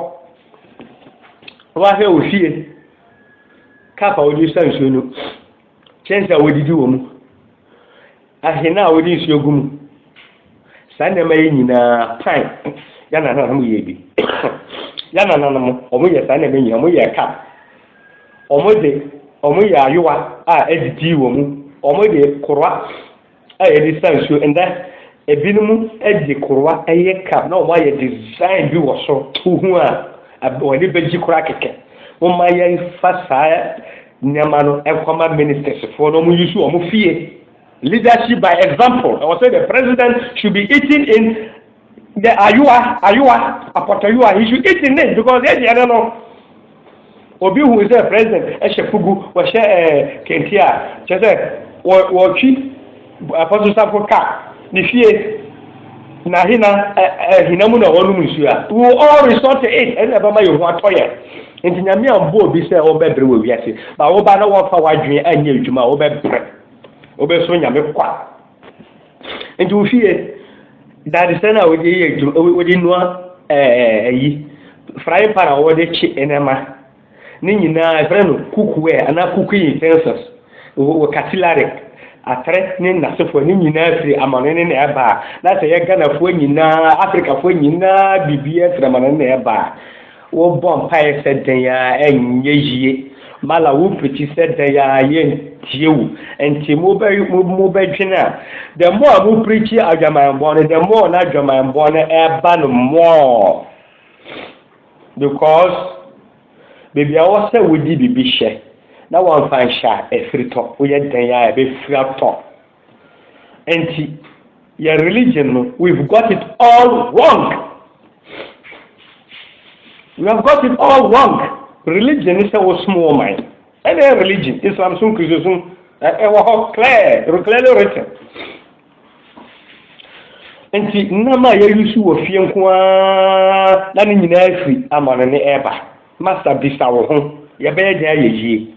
wɔahwɛ wɔ fie kap a wɔde sa nsuo no kyɛnse a wɔdidi wɔ mu ahene a wɔde nsuo gu mu Saa nneɛma yi nyinaa, pan, yɛn nananom yɛ bi. Yɛn nananom, wɔn yɛ saa nneɛma nyinaa, wɔn yɛ cup, wɔn de, wɔn yɛ ayowa a adidi wɔ mu, wɔn de koroa a yɛde sa nsuo. Ndɛ, ebinom de koroa yɛ cup na wɔn ayɛ design bi wɔ so. Wohu a, wɔn ani bɛgye koraa kɛkɛ. Wɔma yɛn fa saa nneɛma no nkɔma ministers foɔ na wɔn yi so wɔn fie. Leadership by example, Ɛwɔ sɛ the president should be eating in the ayowa, ayowa, apɔtɔyowa, he should eat in it because yɛ deɛ no no, obi hu sɛ president ɛhyɛ fugu, wɔhyɛ ɛɛ eh, kente a, kyɛ sɛ wɔ wɔtwi apɔtɔsafo ka ne fie na hena ɛɛ hena mu na wɔnom nsuo a, we will all resort to it, ɛna ɛbɛma yɛn ho atɔ yɛn. Nti nyame ambɔ obi sɛ wɔbɛbrɛ wɔ wiase, ba wɔba na wɔfa wadwene anyɛ adwuma a wɔbɛbrɛ. Wobɛsom Nyame kwa. Nti wo fie dadesɛ no a wode yɛ adwuma wode nua ayi frying pan a wɔde kye nneɛma ne nyinaa ɛfrɛ no cookware anaa cooking utensils wɔ katilare atere ne nnasefoɔ ne nyinaa firi amane ne na ɛba a na sɛ yɛ Ghanafoɔ nyinaa Afrikafoɔ nyinaa biribi ɛfiri amane ne na ɛba a Wobɔ mpaeɛ sɛ dɛn ara ɛnyɛ yie. Mala wopiti sɛ dɛn ara yɛntie wo. Nti mobɛ mobɛdwene a, the more a mo preachi adwamanbɔ no, the more na adwamanbɔ no ɛba no more. Because baabi a ɛwɔ sɛ wodi biribi hyɛ na wɔmfa nhyɛ a, ɛfiri tɔ. Woyɛ dɛn ara a ɛbɛfiri atɔ. Enti yɛn religion no we've got it all wrong. We have got it all wrong. Religion ne sɛ wosom wɔ man. Ɛna yɛ religion, Islam som, Kristo som, ɛwɔ hɔ clear, clearly written. Nti nam a yɛyi so wɔ fie nko ara na ne nyinaa firi amane ne ɛba. Masa bisa wo ho, yɛbɛyɛ dɛn ayɛ yie?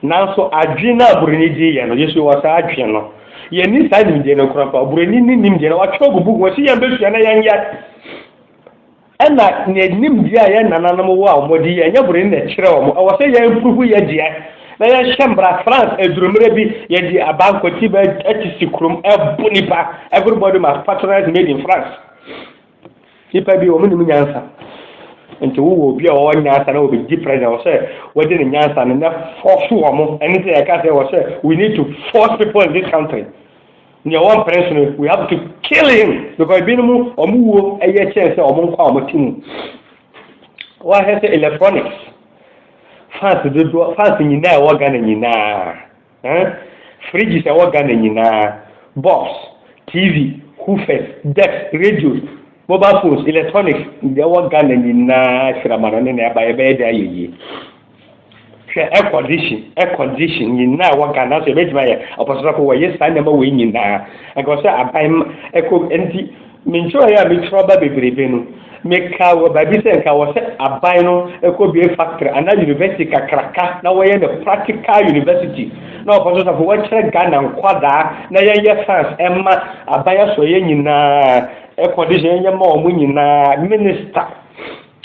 Nanso adwene no a Buroni de yɛ no, yɛ nso yɛwɔ saa adwene no. Yɛnni saa nimdeɛ no nko ampa, Buroni no nim deɛ na watwerɛ agu buku mu, ɔse yɛn bɛsua na yɛnyɛ. Ɛna ne nimdeɛ a yɛn nananom wɔ a wɔn de yɛ, ɛnyɛ Buroni na ɛkyerɛ wɔn, ɛwɔ sɛ yɛn mpurufu yɛ deɛ na yɛhyɛ mmara. France aduru mmerɛ bi, yɛde abankwati bɛ ɛte si kurom ɛbo nipa, everybody must patronize made in France. Nnipa bi wɔn nim nyansa. Nti wowɔ obi a ɔwɔ nyansa na wɔbɛdi president ɔsɛ wɔde ne nyansa no na force wɔn mo. Ɛne sɛ yɛka sɛ ɔsɛ we need to force people in this country. Nea ɔwɔ mprɛnso no we have to kill him because ebinom wɔn wuo ɛyɛ kyɛn sɛ wɔn nkwa wɔn ti mu. Wɔahwɛ sɛ electronics fans dodoɔ fans nyinaa ɛwɔ Ghana nyinaa. Eh fridges ɛwɔ Ghana nyinaa, box, TV, hoofers, decks, radios, mobile phones, electronics, deɛ ɛwɔ Ghana nyinaa sirama no ne na ɛba yɛbɛyɛ de ayɛ yie. Hwɛ air condition, air condition nyinaa ɛwɔ Ghana nso yɛbɛtumi ayɛ ɔpɔsosɔfo wɔyɛ saa nneɛma wei nyinaa. Nka sɛ aban ɛkɔ nti Me ntwerɛeɛ a metwerɛ aba bebrebe no, mekaa wɔ baabi sɛ nka wɔ sɛ aban no kɔbue factory anaa university kakraka na wɔyɛ no practical university na wɔfa so safo wɔkyerɛ Ghana nkwadaa na yɛnyɛ fans ɛma aban asɔeɛ nyinaa air condition yɛnyɛ ma wɔn nyinaa minister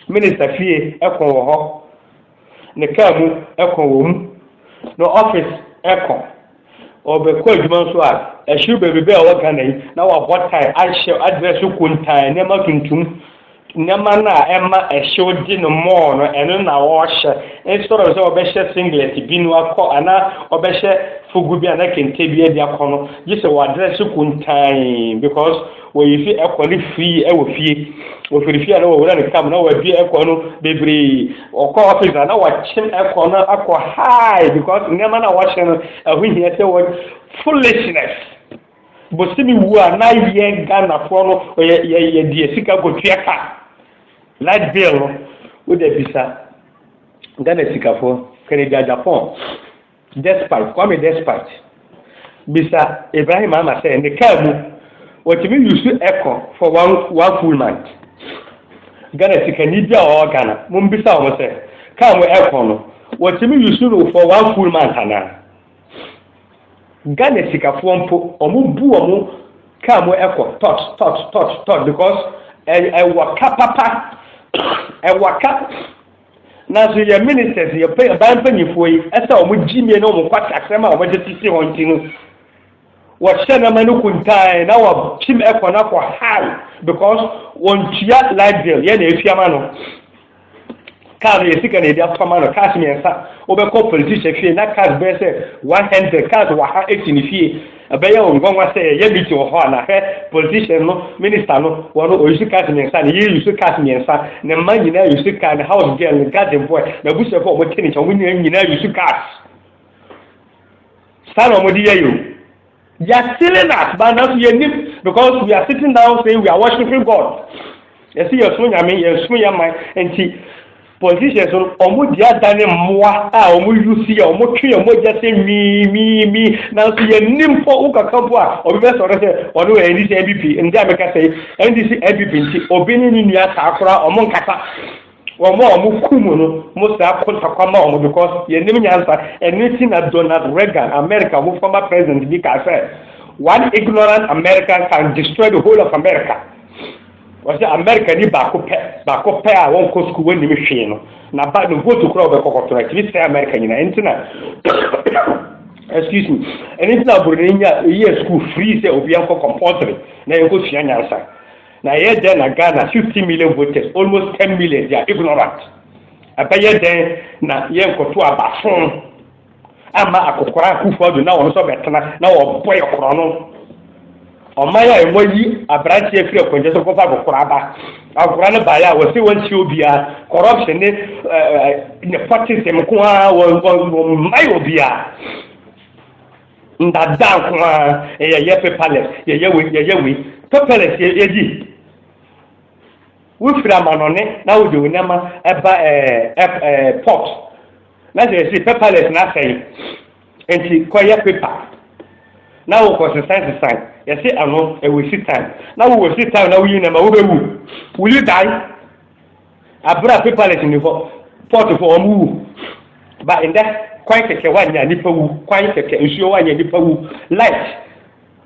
minister fie ɛko wɔ hɔ ne kaa mu kɔ wɔ mu, na office kɔ, ɔbɛkɔ adwuma nso a, ɛhyew baabi bɛɛ a ɔwɔ Ghana yi na wabɔ tae ahyɛ address so kuntaa, nneɛma tuntum, nneɛma no a ɛma ɛhyew de no mɔɔ no, ɛno na ɔhyɛ. Instead of sɛ ɔbɛhyɛ singlet bi no akɔ anaa ɔbɛhyɛ fugu bi anaa kente bi de akɔ no, gye sɛ wɔ address so kuntaa because Wɔyii fi ɛkɔ no firii wɔ fie. Wɔfiri fie a na wɔwura ne car mu na wɔadue ɛkɔ no bebree. Wɔkɔ office a na wɔakyem ɛkɔ no akɔ high because nneɛma no a wɔhyɛ no ɛho hia sɛ wɔ foolishness. Bosome wu a na yɛ Ghanafoɔ no yɛdeɛ sika kɔtua ka light bill no. Wode bisa Ghana sikafoɔ, kane gya Japan. Despite, Kwame Despite bisa Ibrahim Ama sɛ ne kaa mu wɔtumi use ɛkɔ for one, one full month. Ghana sikani bi a ɔwɔ Ghana, mombisa wɔn sɛ kaa mu ɛkɔ no wɔtumi use no for one full month anaa? Ghana sikafoɔ mpo wɔn bu wɔn kaa mu ɛkɔ tot tot tot tot because ɛwɔ ka papa ɛwɔ ka. Nanso yɛn ministers, yɛn ɔbaa mpanyinfoɔ yi, ɛsɛ wɔn gyimie ne wɔn kwatasɛm a wɔde sisi hɔ nti no, wɔhyɛ nneɛma no kuntan na wɔkyim ɛkɔ no akɔ high because wɔntua light bill yɛn na etua ma no kaa no yɛ sika na yɛde atɔ ma no cars mmiɛnsa wobɛkɔ politician fie na cars bɛyɛ sɛ one hundred cars wɔ ha esi ne fie Ɛbɛyɛ wo nwanwa sɛ yɛyɛ meeting wɔ hɔ a na hwɛ politician no, minister no, wɔn no ɔyi so cars mmiɛnsa, ne yere yi so cars mmiɛnsa, ne mma nyinaa yi so car, ne house girl, ne garden boy, n'abusuafo a wɔte ne nkyɛn wɔn nyinaa nyinaa yi so cars. Saa na wɔde yɛ yɛn. They are stealing us, but now we need because we are sitting down saying we are worshiping God. Yes, yes, so nyame, yes, so yaman, and Politicians no, wɔn di adane mmoa a wɔn yusi a wɔn twe wɔn mogya sɛ miimiimi. Nanso yɛn ni mpo wo kakra mpo a obi bɛ sɔrɔ sɛ ɔno wɔ NDC NPP ndi a meka sɛ NDC NPP nti obi ne ne nua saa koraa wɔn nkasa. Wɔn a wɔn ku mu no mo saa ko sakwa ma wɔn because yɛn nim nyansa ɛne ti na Donald Reagan America ho former president bi kaa sɛ one ignorant America can destroy the whole of America. Wɔse Amerikani baako pɛ, baako pɛ a wɔnkɔ sukuu, wɔnnim hwee no, na ba no vote koraa ɔbɛkɔ kɔto no, ɛtumi sɛe Amerika nyinaa. Ɛno nti na excuse me, ɛno nti na Broni nya yɛ sukuu free sɛ obi ankɔ compulsory na yɛnkɔ sua nyansa. Na ɛyɛ dɛn na Ghana 15 million voters, almost 10 million, they are ignorant. Ɛbɛyɛ dɛn na yɛnkɔto abafo? ama akokora akufo adu na wɔn nso bɛtena na wɔbɔ yɛ korɔ no ɔman a ɛmɔ yi aberante afiri akwankyɛ so kɔfa akokora aba akokora no baeɛ a wɔse wɔntie obiara corruption ne nepotism nko ara wɔmmae obiara ndada nko ara yɛyɛ paperless yɛyɛ wei yɛyɛ wei paperless yɛdi wofiri amanɔne na wode wo nneɛma ɛba ɛɛ ɛɛ port Na sɛ yɛse paperless na asɛe nti kɔyɛ paper na wokɔ sesan sesan yɛse ano ɛwɛsi time na wowɔ si time na woyi nɛma wobɛwu will you die abera paperless ni hɔ port fo wɔn wu ba ndɛ kwan kɛkɛ wanya nipa wu kwan kɛkɛ nsuo wanya nipa wu light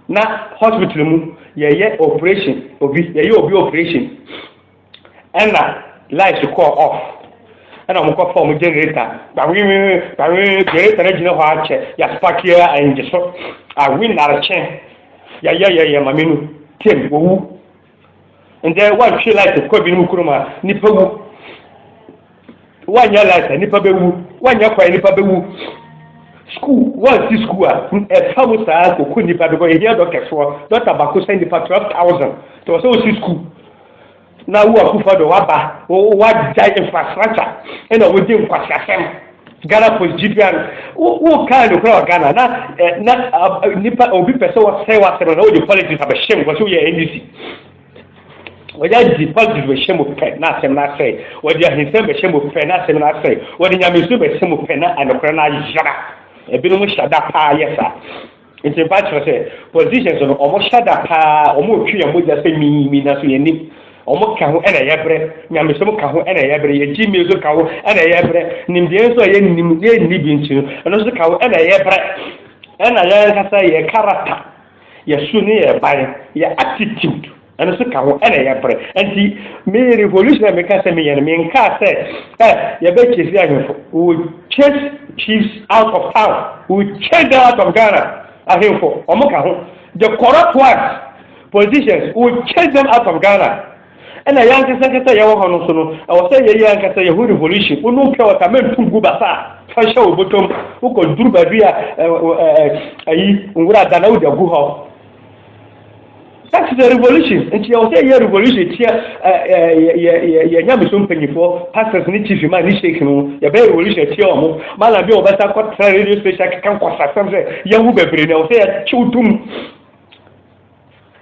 na hospital mu yɛyɛ operation obi yɛyɛ obi operation Ɛna light kɔɔ off ɛna ɔmo kɔ fa ɔmo generator gbawiwiwi gbawiwiwi generator no gyina hɔ akyɛ yasipaki yɛ ɛngye so awi narekye yɛyɛyɛyɛ maame no tem wɔwu ndɛ wɔntwe light kɔ binom kurom a nipa wu. Woanyɛ light a nnipa bɛwu, woanyɛ kwan nnipa bɛwu. Sukuu, woansi sukuu a ɛfa mu saa kɔkɔ nnipa bɛkɔ. Yɛhia dɔkɛsoɔ, dɔkta baako sɛ nnipa 12,000. Nti wɔ sɛ wosi sukuu na wo akufo do waba wagya infrastructure ɛna wodi nkwasiasɛm Ghana post gyibea no wo kaa no kora wɔ Ghana na na nipa obi pɛ sɛ wɔsɛe w'asɛm na wode politics abɛhyɛ mu wɔsɛ woyɛ NDC Wɔde adi positive bɛhyɛ mu pɛ na asɛm no asɛe. Wɔde ahinsɛm bɛhyɛ mu pɛ na asɛm no asɛe. Wɔde nyamesu bɛhyɛ mu pɛ na anokorɛ no ayera. Ebinom hyɛ da paa yɛ saa. Nti mfa kyerɛ sɛ politicians no wɔn hyɛ da paa wɔn retwe yɛn mogya sɛ mii mii nanso yɛn nim. Wɔn ka ho ɛna yɛbrɛ. Nyamesom ka ho ɛna yɛbrɛ. Yɛn gyimie nso ka ho ɛna yɛbrɛ. Nimdeɛ nso a yɛn nim yɛn nni bi nti no ɛno nso ka ho ɛna yɛbrɛ. Ɛna yɛn ankasa yɛn karata. Yɛ su ne yɛ ban, yɛ attitude ɛno nso ka ho ɛna yɛ brɛ. Nti me revolution a meka sɛ meyɛ no menkaa sɛ ɛ yɛbɛ chase ahemfo. We will chase chiefs out of town. We will chase them out of Ghana. Ahemfo, wɔn ka ho. The corrupt ones, politicians, we will chase them out of Ghana. Nna yɛn ankasa ankasa a yɛwɔ hɔ no so no, ɛwɔ sɛ yɛyɛ yɛn ankasa yɛn ho revolution. Wonum pɛ wɔ ta mɛ ntum gu basa a, fa hyɛ wo bɔtɔm. Wokɔ duru baabi a ayi nwura da na wode agu hɔ. That is a revolution. Nti yɛwɔ sɛ yɛyɛ revolution tia yɛ nyamesom mpanyinfoɔ, pastors ne chief ma ne sheik no, yɛbɛyɛ revolution tia wɔn. Malam bi a wɔbɛsa kɔtra radio station akeka nkɔsasɛm sɛ yɛahu bebree na ɛwɔ sɛ yɛkyew tom.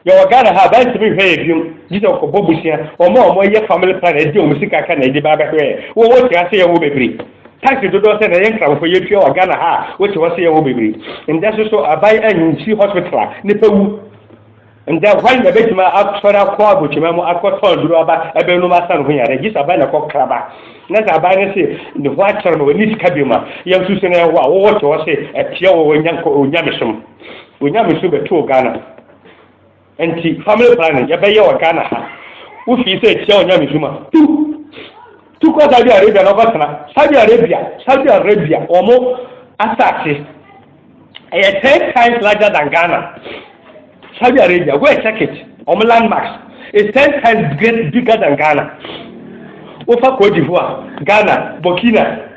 Yɛwɔ Ghana ha a baa ntumi nhwɛ yɛn biom gye sɛ wɔkɔbɔ bosea. Wɔn a wɔyɛ family planning ɛde wɔn sika ka na ɛde ba bɛhwɛ yɛn. Wo wote ha sɛ yɛwɔ bebree. Taxi dodoɔ sɛ na yɛn Nkramofo yɛtua wɔ Ghana ha a wote hɔ sɛ yɛwɔ bebree. Ndɛ nso so aban ansi hospital a nipa wu. Ndɛ hwan na bɛtumi asɔre akɔ abotwema mu akɔ tɔn aduro aba ɛbɛnom asa ne ho yare gye sɛ aban na kɔ kra ba. Na sɛ aban no se ne ho akyɛre ma wɔnni sika biom a yɛn nso so na yɛwɔ a wo wote hɔ sɛ ɛteɛ wɔ Onyamesom. Onyamesu bɛtoo Ghana nti family planning yɛbɛyɛ wɔ Ghana ha. Wofii sɛ tia onyamesu ma. Tu! Tu kɔ Saudi Arabia na ɔkɔtena. Saudi Arabia, Saudi Arabia, wɔn asase ɛyɛ ten times larger than Ghana. Saudi Arabia, go and check it. Wɔn landmarks is ten times great bigger than Ghana. Wofa Cote d'Ivoire, Ghana, Burkina.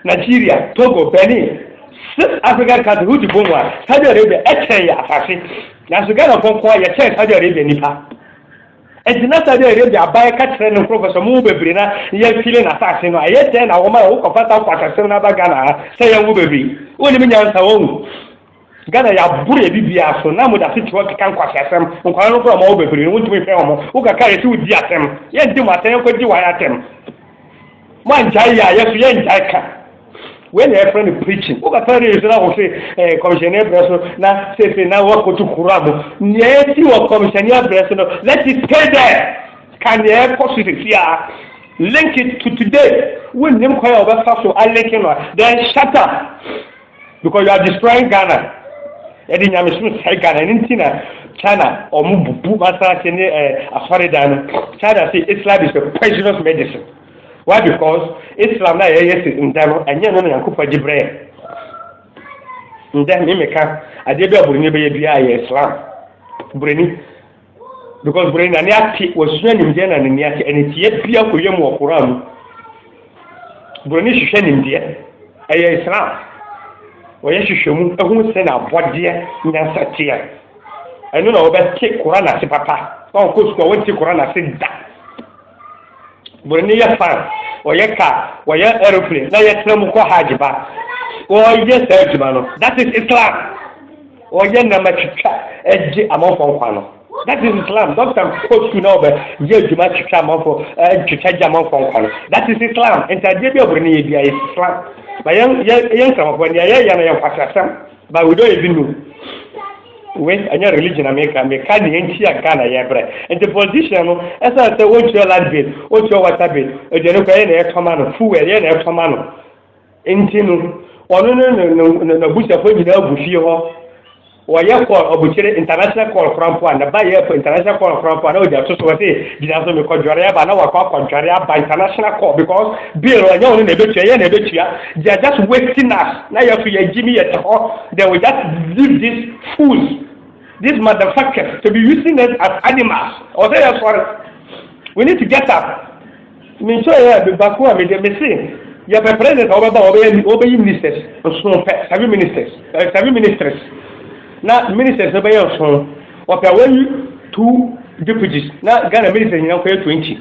Nigeria, Togo, Benin, Six African countries wogye bom a, Saudi Arabia ɛkyɛn yɛ asase. Nanso Ghanafoɔ nko ara yɛkyɛn Saudi Arabia nnipa. Nti na Saudi Arabia aban ka kyerɛ ne nkurɔfoɔ sɛ mo bebree na yɛmfili n'asase no a, ɛyɛ dɛn na wɔma wokɔfa saa kwasasɛm no aba Ghana ha sɛ yɛnwo bebree? Wonnim nyansa wɔn. Ghana yɛaboro yɛ biribiara so na moda asetra ɔkeka nkwaseasɛm nkwadaa no koraa ɔma wɔ bebree no wontumi nhwɛ wɔn wo kakra yɛse wodi atɛm yɛnte mo atɛm yɛnkɔ gye wɔn atɛm mo angyae yɛ a yɛso yɛngyae ka wei na yɛfrɛ no preaching wo kakra ne yɛso na wo se eh, kɔmhyɛne abrɛ so na sese na woakɔto kura mo nea ɛsi wɔ kɔmhyɛne abrɛ so no let it stay there ka nea ɛkɔ so sesi a link it to today wonnim kwan a wɔbɛfa so alinke no a then shut up because you are destroying ghana ɛde nyamesoro sɛe ghana ɛno nti na china ɔmo bubu masanse ne ɛɛ eh, asɔredan no china say islam is a poisonous medicine why because islam na yɛyɛ si nda no ɛnyɛ no na yankopɔ gye brɛ nda ne meka adeɛ bi a buroni bɛyɛ biara yɛ islam buroni because bere na ne ate wɔsua nimdeɛ na ne ne ate ɛne tie bia kɔyɛ mu wɔ koraa mu bere ne hwehwɛ nimdeɛ ɛyɛ islam wɔyɛ hwehwɛ mu ɛho sɛ na abɔdeɛ nyansa teɛ ɛno na wɔbɛte koraa na ase papa wɔn kɔ sukuu a wɔnte koraa na ase da Wɔn ani yɛ fan, wɔyɛ car, wɔyɛ aeroplane na yɛtena mu kɔ hajj ba. Wɔyɛ saa adwuma no. That is Islam. Wɔyɛ nam atwitwa gye amanfoɔ nkwa no. That is Islam. Dɔkta kɔ sukuu na ɔbɛ yɛ adwuma twitwa amanfoɔ twitwa gye amanfoɔ nkwa no. That is Islam. Nti adeɛ bi a wɔn ani yɛ bi a yɛ Islam. Ba yɛn yɛn yɛn nkramofoɔ nea yɛyɛ no yɛ nkwasasɛm. Ba wei dɔyɛ bi no we ɛnyɛ religion na meka meka ne ɛnti a Ghana yɛ brɛ nti politician no ɛsan sɛ wɔntua land bill wɔntua water bill aduane kɔ ɛyɛ na ɛtɔma no fuel ɛyɛ na ɛtɔma no nti no ɔno no n'abusuafoɔ nyinaa agu fie hɔ wɔyɛ call ɔbukyere international call kora mpo a na ba yɛ international call kora mpo a na ɔde ato so wɔte gyina so mekɔ dware aba na wakɔ akɔ dware aba international call because bill ɔnyɛ wɔn na ɛbɛtua ɛyɛ na ɛbɛtua they are just wasting us Na yɛso yɛgyimi yɛte hɔ then we just leave these fools these motherfuckers to be using us as animals ɔwɔ sɛ yɛsɔre we need to get up menkyerɛ yɛ baako a mede mese yɛpɛ president a wɔbɛba wɔbɛyi ministers nsono pɛ seven ministers eh, seven ministers na ministers no bɛyɛ nsono wɔpɛ wɔyi two deputies na ghana ministers nyina nkɔyɛ twenty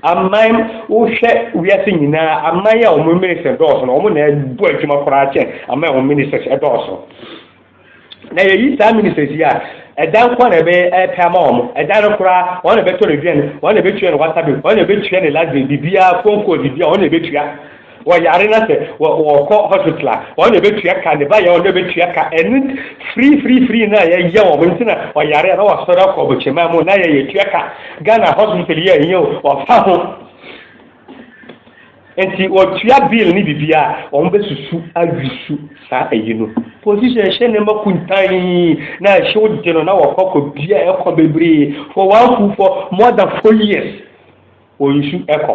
Aman, wohwɛ wiase nyinaa a, aman yi a wɔn ministers dɔɔso no, wɔn na ɛbɔ adwuma koraa kyɛn aman a wɔn ministers dɔɔso. Na yɛyi saa ministers yi a, ɛdan nko na ɛbɛpɛ ama wɔn. Ɛdan no koraa, wɔn na ɛbɛtɔ no aduane, wɔn na ɛbɛtua no water bill, wɔn na ɛbɛtua no light bill, biribiara, phone call, biribiara, wɔn na ɛbɛtua. Wɔyare na sɛ wɔkɔ hospital a, wɔn na ɛbɛtua ka, ne ba yɛ wɔn na ɛbɛtua ka. Ɛne free free free na yɛyɛ wɔn nti na wɔyare a na wɔsɔre akɔ bɔkyɛmaa mu na yɛ yɛtua ka. Ghana hospital yɛ ɛnyɛ o, wɔfa ho. Nti wɔtua bill ne bibia a, wɔn bɛsusu awisu saa ayi no. Position ɛhyɛ ne ma kuntan na ɛhyew de no na wɔkɔ kɔ bia ɛkɔ bebree for one food for more than four years. Wɔ nsu ɛkɔ.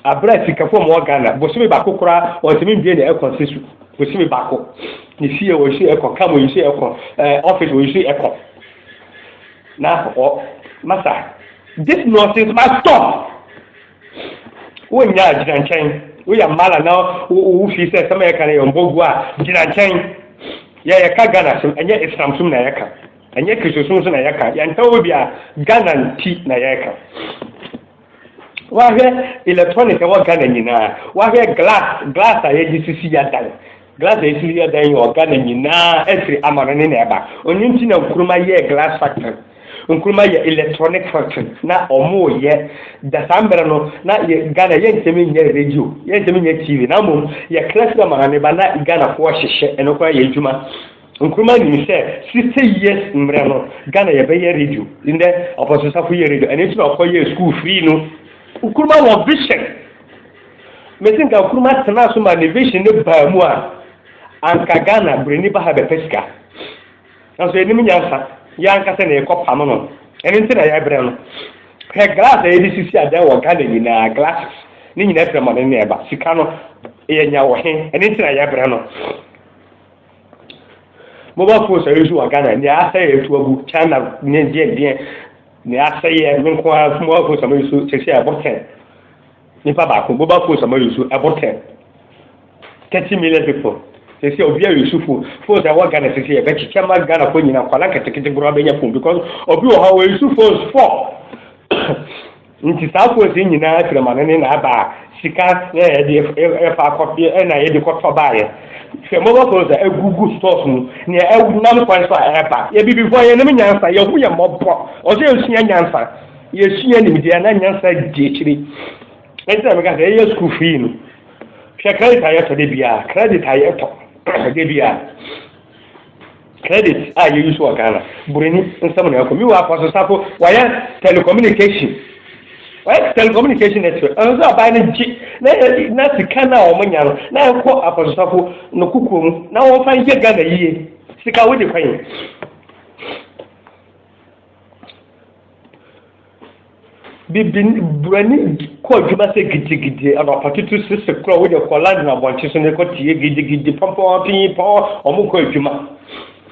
Aberɛ a sika fɔm wɔ Ghana, bosome baako koraa wɔntumi mbue ne ɛkɔ nse su. Bosome baako. Ne fie wɔ nsu ɛkɔ, kam wɔ nsu ɛkɔ, ɛɛ office wɔ nsu ɛkɔ. Na wɔ masa. This nonsense must stop. Wo nyaa gyina nkyɛn. Wo yɛ mala na wo fi sɛ sɛm ɛka no yɛ ɔmbɔ gu a gyina nkyɛn. Yɛ yɛ ka Ghana sɛm ɛnyɛ Islam sum na yɛ ka. Ɛnyɛ Kristosom nso na yɛka, yɛnka wɔ bi a, Ghana nti na yɛka. Wahwɛ electronic ɛwɔ Ghana nyinaa, wahwɛ glass, glass a yɛde sisi yɛdan, glass a yɛsisi yɛdan yɛ wɔ Ghana nyinaa, ɛfiri amanɔne na ɛba. Ɔno nti na Nkrumah yɛ glass factory. Nkrumah yɛ electronic factory na ɔmo yɛ da saa mmerɛ no na yɛ Ghana yɛntɛmi nyɛ radio yɛntɛmi nyɛ TV na mmom yɛkra firi amanɔne ba na Ghanafoɔ hyehyɛ ɛno koraa yɛ adwuma Nkrumah nim sɛ sixty years mmerɛ no Ghana yɛ bɛyɛ radio ndɛ ɔpɔso safo yɛ radio ɛno nti na ɔkɔ yɛ school free no Nkrumah wɔ vision mesi nka Nkrumah tena so ma ne vision ne baa mu a anka Ghana brɛni ba ha bɛpɛ sika nanso yɛnim nyansa yɛ ankasa na yɛkɔ pam no ɛno nti na yɛbrɛ no hwɛ glass a yɛde sisi adan wɔ Ghana nyinaa glasses ne nyinaa firi mɔne ne ɛba sika no yɛnya wɔ he ɛno nti na yɛbrɛ no Mobile phones a yɛsu wɔ Ghana, nea asɛe atu agu, China ne deɛ deɛ, nea asɛeɛ no nko ara mobile phones a moyusu sɛsi a ɛbɔ 10. Nipa baako, mobile phones a moyusu ɛbɔ 10. 30 million people. Sɛsi a obi a yusu phone, phones a ɛwɔ Ghana sɛsi a ɛbɛkyekyɛ ma Ghana fo nyina, nkwadaa nketekete koraa bɛnya phone because obi wɔ hɔ a ɔyusu phones 4. Nti saa course yi nyinaa afiremane ne na aba a sika na yɛde ɛfa akɔ ɛna yɛde kɔtɔ baayɛ hwɛ mobɔ course a ɛgugu stores mu nea ɛnam kwan so a ɛba yɛbibifo yɛnim nyansa yɛho yɛ mɔbɔ ɔsɛ yɛsua nyansa yɛsua nimdeɛ na nyansa di akyiri ɛnti na meka sɛ ɛyɛ school fee no hwɛ credit a yɛtɔ de biara credit a yɛtɔ de biara Credit a yɛ use wɔ Ghana buroni nsam na ɛkɔ. Miwa akɔ so sako wayɛ telecommunication wayɛ telecommunication network ɛno sɛ ɔbaa no gye na na sika no a wɔn nya no na ɛkɔ akɔ so sako no kukuo mu na wɔn fa yɛ Ghana yie sika wode kwan. Bibini buroni kɔ adwuma sɛ gidigidi anɔpatutu sese korɔ woyɛ kɔ London abɔnten so ne kɔ tie gidigidi pɔmpɔn pinyi pɔn wɔn kɔ adwuma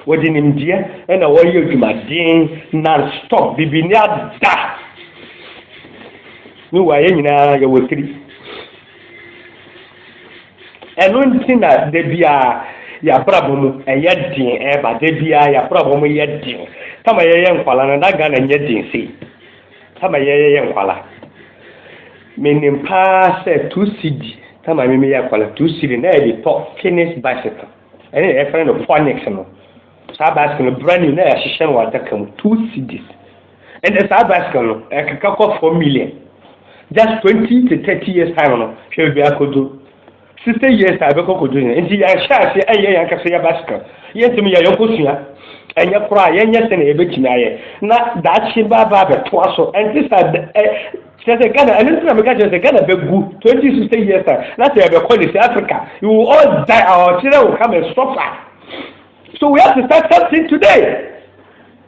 wɔde nimdeɛ na wɔyɛ adwumaden non stop bibini ada ne wɔ ayɛ nyinaa yɛwɔ tiri. Ɛno nti na da biara yɛabrabɔ mu ɛyɛ den ɛba da biara yɛabrabɔ mu yɛ den tama yɛyɛ nkwala no na Ghana nyɛ den sei tama yɛyɛ nkwala menim paa sɛ two cedi tama me meyɛ nkwala two cedi na yɛde tɔ finish bicycle ɛne na yɛfrɛ no phonics no saa bicycle no brand new na yɛahyehyɛ no wɔ adaka mu two cedis Ɛnna saa bicycle no ɛkeka kɔ four million just twenty to thirty years time no hwɛ baabi akodu sixty years a ɛbɛkɔ kodu yɛn nti yɛahyɛ ase ɛyɛ yɛn ankasa yɛ bicycle yɛntumi yɛ yɛn kosua ɛnyɛ koraa yɛnyɛ sɛ na yɛbɛtumi ayɛ na daakye baaba abɛtoa so ɛnte saa ɛ kyerɛ sɛ ghana ɛno nti na meka kyerɛ sɛ ghana bɛgu twenty sixty years a na sɛ yɛbɛkɔ ne sɛ africa you will all die our children will come and suffer so we have to start something today.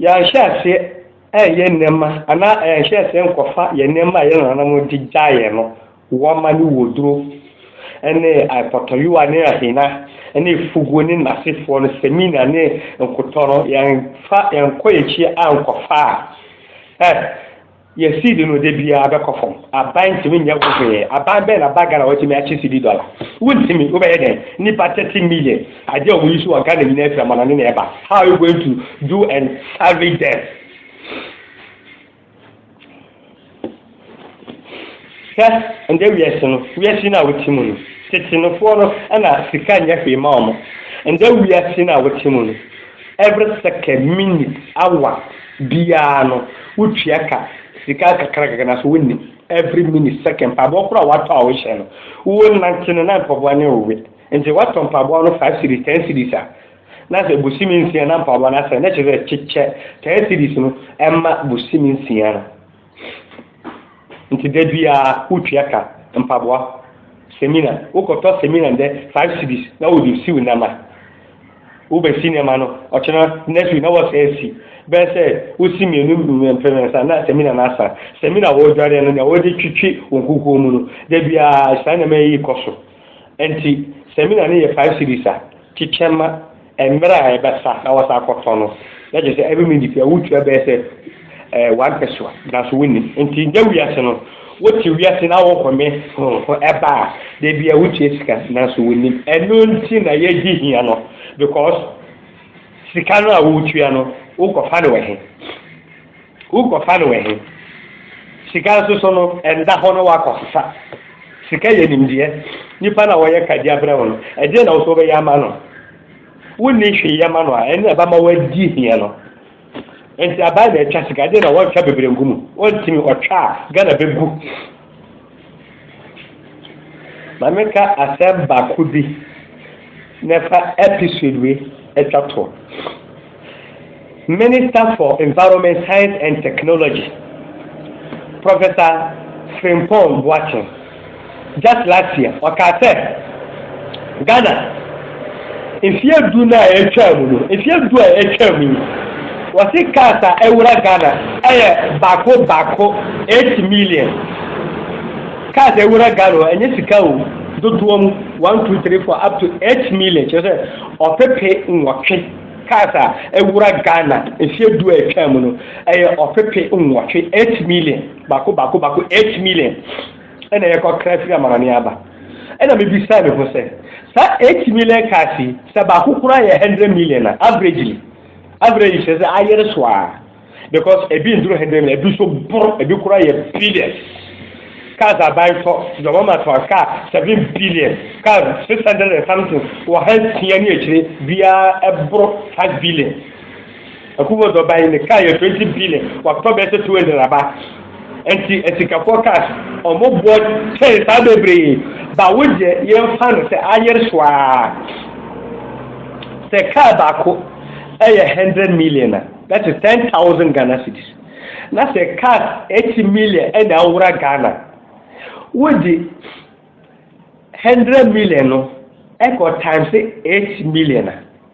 Yɛanhyɛ aseɛ ɛɛyɛ nneɛma anaa yɛanhyɛ aseɛ nkɔfa yɛn nneɛma a yɛn nananom de gyae yɛn no, wɔma ne wɔduro ne apɔtɔyowa ne ahina ne fuguo ne nnasefoɔ no, samina ne nkotɔ no, yɛnfa yɛnkɔ yɛn akyi ankɔfa a, ɛ. Yɛ seed no da biara bɛkɔ fam. Aban ntumi nyɛ ho hwee. Aban bɛn na ba Ghana wɔtumi akye cedi dɔla? Wontumi. Wobɛyɛ dɛn? Nnipa thirty million. Adeɛ a wɔn yi so wɔ Ghana nyinaa firi amanɔne na ɛba. How are you going to do and salvage them? Hwɛ, ndɛ wiase no, wiase no a wote mu no, tsetse nofoɔ no na sika nnyɛ hwee ma wɔn. Ndɛ wiase no a wote mu no, every second, minute, hour biara no wotua ka, sika nkakrankakra naaso wonnim, every minute, second, mpaboa kor a wɔatɔ a wohyɛ no, wo nantse no na mpaboa no rewe. Ntsi wɔtɔ mpaboa no five cedis, ten cedis a, na sɛ bosome nsia na mpaboa no asɛɛ, na kyerɛ dɛ kyekyɛ ten cedis no ma bosome nsia no. Nti da biara wotua ka, mpaboa, semina, wokɔtɔ semina ndɛ five cedis na wɔde siw nneɛma. Wobɛsi nneɛma no, ɔkyena next week na wɔsan asi. Bɛyɛ sɛ wosi mmienu mprɛnsa na semina no asa. Semina a wɔredware no, nea wɔde twetwe wɔn kukuo mu no, da biara saa nneɛma yi kɔ so. Enti sɛ me nua no yɛ five cedis a, kyekyɛ ma mmerɛ a ɛbɛsa na wasan akɔtɔn no, na kyerɛ sɛ every minute biara wotua bɛyɛ sɛ eh, one pessoa, nanso wonni. Enti nya wiase no, wote wiase na wohome ho ho ɛba a, da biara wotua sika nanso wonnim. Ɛno nti na yɛgye hia no, because sika no a wotua no, wokɔfa no wɔ he? Wokɔfa no wɔ he? Sika nso so no, ɛnda hɔ na woakɔsesa. Sika yɛ nimdeɛ. Nnipa no a wɔyɛ kadeɛ abrɛ wo no, ɛdeɛ na wo so wobɛyɛ ama no? Wonni hwee yɛ ma no a, ɛno na ɛbɛma woadi hia no. Nti abaa na ɛtwa sika, ɛdeɛ na wɔntwa bebree ngu mu. Wɔntumi, ɔtwa a, Ghana bɛgu. Ma me ka asɛm baako bi na ɛfa episode wei atwa toɔ. Minister for Environment, Science and Technology, Professor Frimpong Boateng, just last year, ɔkaa sɛ Ghana Mfeɛ du no a atwaa mu no, mfeɛ du a atwaa mu yi, wɔse cars a awura Ghana ɛyɛ baako baako 8 million. Cars a awura Ghana hɔ ɛnyɛ sika o, dodoɔ mu 1, 2, 3, 4 up to 8 million kyerɛ sɛ ɔpepe nwɔtwe cars a awura Ghana mfeɛ du a atwaa mu no ɛyɛ ɔpepe nwɔtwe 8 million baako baako baako 8 million. na yɛkɔkra firi amanɔne aba. Ɛna mebisaa me ho sɛ, saa 8 million cars yi, sɛ baako koraa yɛ 100 million a, averagely, average kyerɛ sɛ ayere so a, because ebi nduru 100 million, ebi so boro, ebi koraa yɛ billion. Cars aban tɔ, dɔma ma tɔ car 7 billion, car 600 and something, wɔ ha tia ne akyire, biara ɛboro 5 billion. Akubo dɔ ban ne kaa yɛ 20 billion watɔ bɛyɛ sɛ 200 aba nti asikafoɔ cars ɔmo boɔ kyɛn saa bebree ba wo deɛ yɛmfa no sɛ ayere soaa sɛ kaa baako ɛyɛ 100 million a that is 10,000 Ghana cedis na sɛ cars 8 million ɛna awura Ghana wo de 100 million no ɛkɔ times 8 million a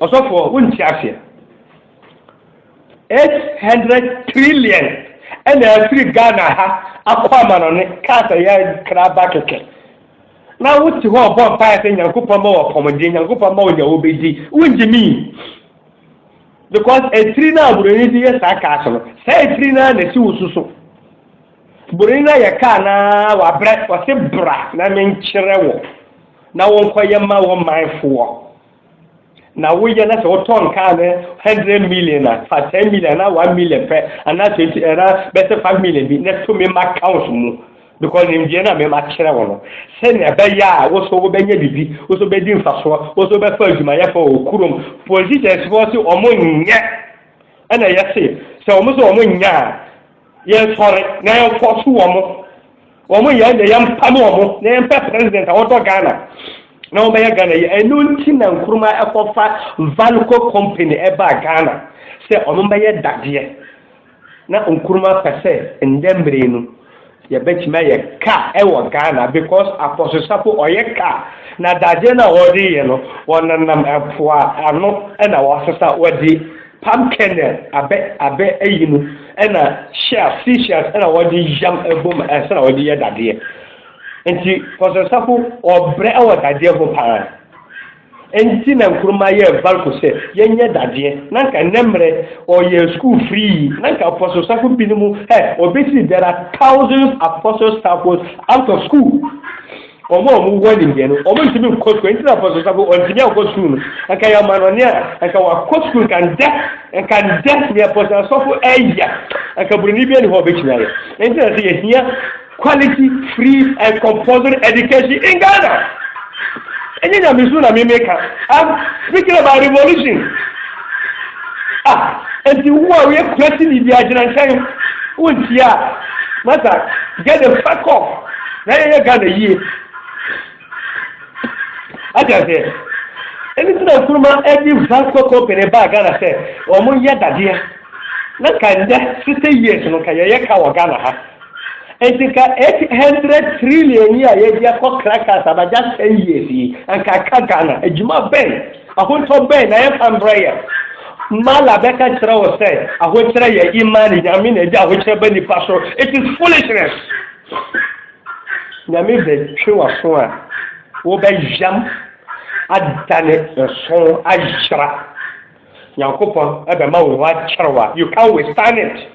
Ɔsɔfoɔ wonte aseɛ. 800 trillion ɛna afiri Ghana ha akɔ amanɔne kaa sɛ yɛ kra ba kɛkɛ. Na wote hɔ ɔbɔ mpaeɛ sɛ Nyankopɔn ma wɔ pɔmuden, Nyankopɔn ma wɔ deɛ wobɛdi. Wongye mi. Because etiri no a Buroni de yɛ saa kaase no, saa etiri no ara na ɛsi wo so so. Bore no ayɛ ka anaa wabrɛ? Ɔse bra na menkyerɛ wo na wonkɔyɛ ma wo man foɔ. Na woyɛ na sɛ wotɔ nkaa no 100 million a, fa 10 million anaa 1 million pɛ anaa 20 anaa bɛsɛ 5 million bi na to me ma count mu. Because nimdeɛ no a mema kyerɛ wo no, sɛnea ɛbɛyɛ a wo so wobɛnya biribi, wo so bɛdi mfasoɔ, wo so bɛfa adwumayɛfoɔ wɔ kurom. Politicians foɔ se wɔn nyɛ. Ɛna yɛse sɛ wɔn se wɔn nyɛ a, Yɛn sɔre na yɛn fɔso wɔn mo. Wɔn mo yɛn deɛ yɛn mpa mo wɔn mo. Na yɛn pɛ president a wɔdɔ Ghana. Na wɔn bɛyɛ Ghana yɛ. Ɛnu nti na nkuruma ɛkɔ fa Valco company ɛba Ghana. Sɛ wɔn bɛyɛ dadeɛ. Na nkuruma pɛ sɛ ndɛ mmire no yɛ bɛ tumi ayɛ ka ɛwɔ Ghana because apɔsosafo ɔyɛ ka na dadeɛ na wɔde yɛ no wɔn nenam ɛmpoa ano ɛna wɔasesa wɔde Palm kernel abɛ abɛ ayi no ɛna shells sea shells ɛna wɔde yam ɛbɔ mu ɛnsa na wɔde yɛ dadeɛ nti kɔsɛsafo ɔbrɛ ɛwɔ dadeɛ ho paa nti na nkuruma yɛ valko sɛ yɛnyɛ dadeɛ na nka nnɛ mmerɛ ɔyɛ school free na nka apɔsosafo binom ɛ ɔbɛsi there are thousands apostles out of school Wɔn a wɔwɔ animdeɛ no, wɔntumi nkɔ sukuu. Ɛnti na Apostle Safo ɔntumi ankɔ sukuu no. Anka yɛ amanɔne a, anka wakɔ sukuu nka ndɛ, anka ndɛ nea Apostle Asɔfo ɛyɛ, anka buroni bi ani hɔ ɔbɛtumi ayɛ. Ɛnti na sɛ yɛhia quality, free and compulsory education in Ghana. Ɛnyɛ nyamesu na meme ka. I'm speaking about revolution. Ah, enti wo a woyɛ kurasi ni bia gyina nkyɛn wontia a, masa get the fuck off na yɛyɛ Ghana yie. Ate aseɛ? Ɛno nti na Nkrumah ɛde Vasco Company baa Ghana sɛ wɔn yɛ dadeɛ. Na nka nnɛ 60 years no nka yɛyɛ ka wɔ Ghana ha. Enti ka 800 trillion yi a yɛde akɔ crackers abagya 10 years yi, anka aka Ghana. Adwuma bɛn, ahontɔ bɛn na yɛmfa mbrɛ yɛn? Mala bɛka kyerɛ wo sɛ ahokyerɛ yɛ imani, nyame na ɛde ahokyerɛ ba nipa so. It is foolishness. Nyame bɛtwe w'aso a, wobɛyam adane nso ayera. Nyankopɔn ɛbɛma wo ho akyerɛ wa. You can't withstand it.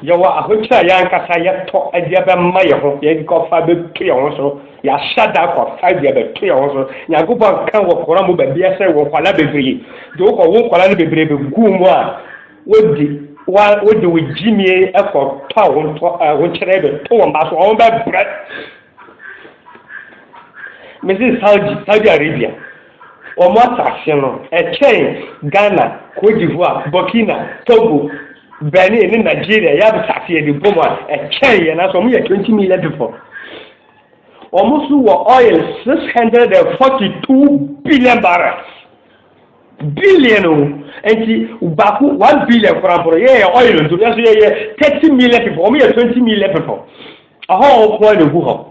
Yɛwɔ ahokyere a yɛn ankasa yɛtɔ de bɛma yɛn ho, yɛde kɔfa bɛto yɛn ho so, yɛahyɛ da akɔfa de abɛto yɛn ho so. Nyankopɔn ka wɔ Koran mu baabi sɛ wɔ nkwadaa bebree, de wokɔ wo nkwadaa no bebree bɛgu mu a, wodi wa wode wo gyimie kɔtɔ ahontɔ ahokyerɛ bɛto wɔn ba so, wɔn bɛbrɛ. Mesi Saudi, Saudi Arabia. Wɔn asase no, ɛkyɛn Ghana, Côte d'Ivoire, Burkina, Togo, Benin ne Nigeria yɛ asase yɛde bɔ mu a, ɛkyɛn yɛn nanso wɔn yɛ 20 million people. Wɔn nso wɔ oil 642 billion barrels. Billion o, nti baako one billion koraa mpo no yɛyɛ oil nso yɛn nso yɛyɛ 30 million people, wɔn yɛ 20 million people. Ɛhɔ a wɔn nko ara na egu hɔ.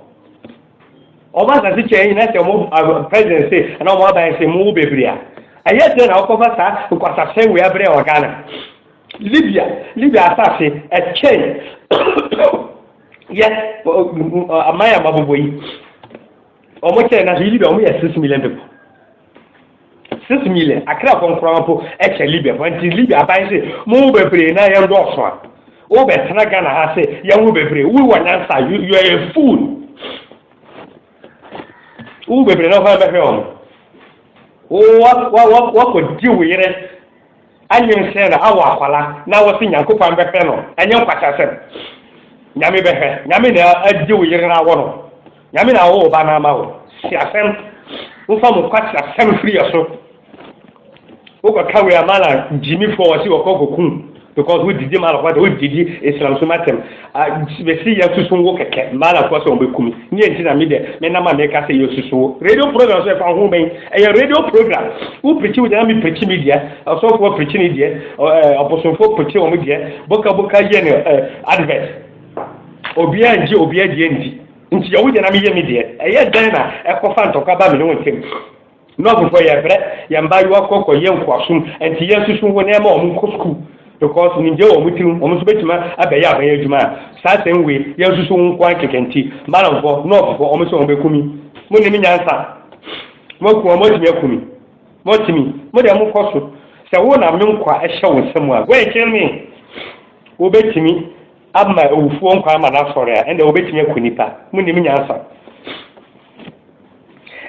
wɔn asase kyɛ nyina sɛ wɔn president se ɛna wɔn aban se mo wo bebree a ɛyɛ dɛ na wɔkɔfa saa nkwasasɛ wei abrɛ wɔ Ghana Libya Libya asase ɛkyɛn yɛ aman a mabobɔ yi wɔn kyɛ na Libya wɔn yɛ six million people. Six million Akrafo nkoraa mpo kyɛ Libiafo nti Libia aban se mo ho bebree na yɛn dɔɔso a wo bɛ tena Ghana ha se yɛn ho bebree wo wɔ nyansa you are a fool wo ho bebree na hwan bɛhwɛ wɔn wo wakɔ di wo yere Anwen sɛ na awɔ akwala na wɔse Nyankopan bɛhwɛ no ɛnyɛ nkwaseasɛm. Nyame bɛhwɛ. Nyame na agye wo yere no awɔ no. Nyame na awo wo ba no ama wo. Si asɛm. Womfa mo nkwaseasɛm firi yɛ so. Wokɔ ka wei a ma na gyimifoɔ wɔse wɔkɔ kɔku because wo didi ma no kwata wo didi Islamsom atɛm. A Mese yɛasusu wo kɛkɛ, mmaa na kɔɔ sɛ wɔbɛku me. Neɛ nti na me deɛ menam a meka sɛ yɛasusu wo. Radio program nso ɛfa ho bɛn? Ɛyɛ radio program. Wo pirikyi wo deɛ na me pirikyi me deɛ, ɔsɔfoɔ pirikyi ne deɛ, ɛɛ ɔbosomfoɔ pirikyi wɔn deɛ, boka boka yɛ ne ɛɛ advert. Obiara ngye obiara deɛ ndi. Nti yɛ wo deɛ na meyɛ me deɛ. Ɛyɛ dɛn na ɛkɔfa ntɔkwa ba me ne wo ntam? Nɔɔsefo yɛ brɛ yɛn mbaayewa kɔ kɔ yɛ nkoasom ɛnti yɛn susu ho na yɛma wɔn nkɔ sukuu because nimdie wɔ wɔn tiri mu wɔn nso bɛtumi abɛyɛ aban adwuma a saa same way yɛn susu ho nkoa nkeka nti malamfo nɔɔsefo wɔn sɛ wɔn bɛku mi mo nim nyansa mo aku wɔn mo atumi aku mi mo atumi mo deɛ mo kɔ so sɛ wo na me nkwa ɛhyɛ wo nsam a go and kill me wo bɛtumi ama awufoɔ nkwa ama no asɔre a ɛnna wo bɛtumi aku nipa mo nim nyansa.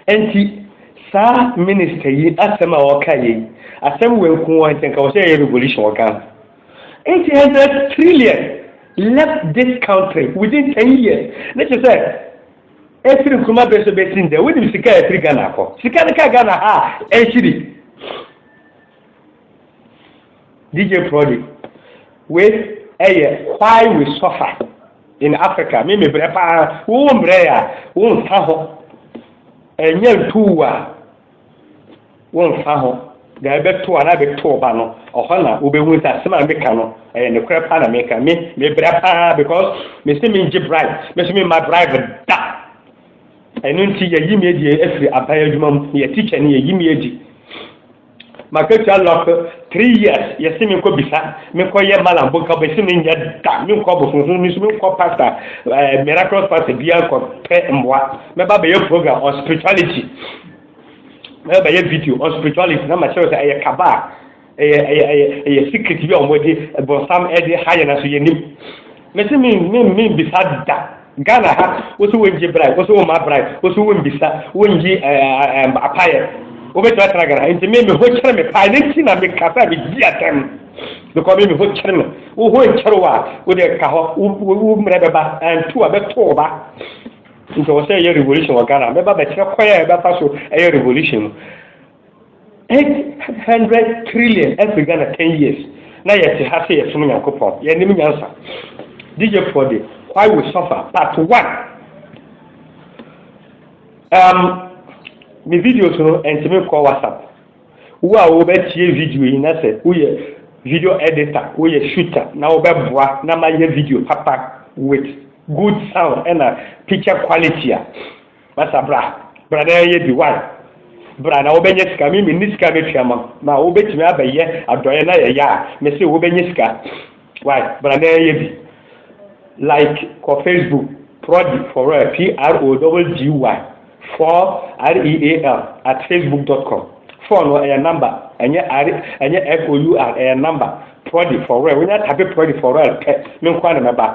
Enti saa minister yi asɛm a ɔka yei asɛm wei nko ara nti anka wɔsɛ yɛyɛ revolution wɔ Ghana. 800 trillion left this country within 10 years ne kyerɛ sɛ ɛfiri Nkrumah bɛ so bɛsi ndɛ wonim sika a ɛfiri Ghana akɔ sika no ka Ghana ha a ɛnhyiri DJ Prodi, wei yɛ why we suffer in Africa, me mebrɛ paa, wo mbrɛ a wo nfa ho, ɛnyɛ ntuu a wo nfa ho, deɛ ɛbɛto a na ɛbɛto ɔba no, ɔhɔ na wobɛhu sɛ asɛm a meka no ɛyɛ nokorɛ paa na meka, me mebrɛ paa because mese mengye bribe, me so memma bribe da, ɛno nti yɛyi me adi afiri aban adwuma mu, yɛ teacher ni yɛyi me adi. Makatua lɔk three years yɛse menkɔ bisa menkɔ yɛ malam bo nka bɛse menyɛ da menkɔ abosohunu mesu menkɔ pastor eh, miraculous pastor bia nkɔ pɛ mmoa mɛba bɛyɛ program on spirituality mɛba bɛyɛ video on spirituality na makyerɛ sɛ ɛyɛ kaba a ɛyɛ ɛyɛ ɛyɛ secret bi a wɔde bɔnsam ɛde ha yɛn aso yɛnim Mese me me me mbisa da Ghana ha wosi wo ngye brai wosi wo ma brai wosi wo mbisa wo ngye apayɛ wobɛtumi atena Ghana nti me me ho kyerɛ me paa ne nti na me kasa me di atɛm because me me ho kyerɛ me wo ho nkyerɛ wo a wo de ka hɔ wo mmerɛ bɛba antu a bɛto wo ba nti wɔ sɛ ɛyɛ revolution wɔ Ghana mɛba bɛkyerɛ kwan a ɛbɛfa so ɛyɛ revolution no 800 trillion ɛfiri Ghana 10 years na yɛte ha sɛ yɛsom Nyankopɔn yɛnim nyansa DJ Paul de why we suffer part 1 um, me videos no ɛntumi kɔ WhatsApp wo a wobɛtie video yi na sɛ woyɛ video editor woyɛ shooter na wobɛboa na mayɛ video papa with good sound ɛna picture quality a Masa bra bra na yɛyɛ bi why bra na wobɛnyɛ sika me menni sika mɛtua ma ma wobɛtumi abɛyɛ adɔeɛ na yɛyɛ a mese wobɛnyɛ sika why bra na yɛyɛ bi like kɔ facebook prodi for real p r o double d y for r e a l at facebook dot com phone no ɛyɛ number ɛnyɛ r ɛnyɛ f o u r ɛyɛ number prodi for real wonya tape prodi for real pɛ me nkoa na mɛba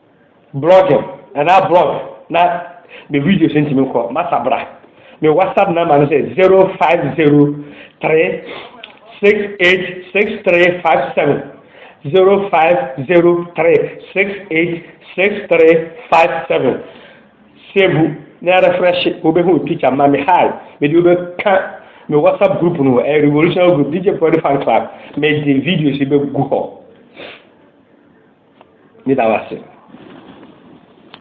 Blogging anaa blog na me videos ntumi nkɔ, masa bra. Me WhatsApp number no sɛ 0503686357, 0503686357. Save na refresh wobɛhu me picture ma me hi, mede wobɛka me WhatsApp group no, ɛyɛ revolutionary group, DJ Prodi Fan Club, mede videos bɛgu hɔ. Meda wo ase.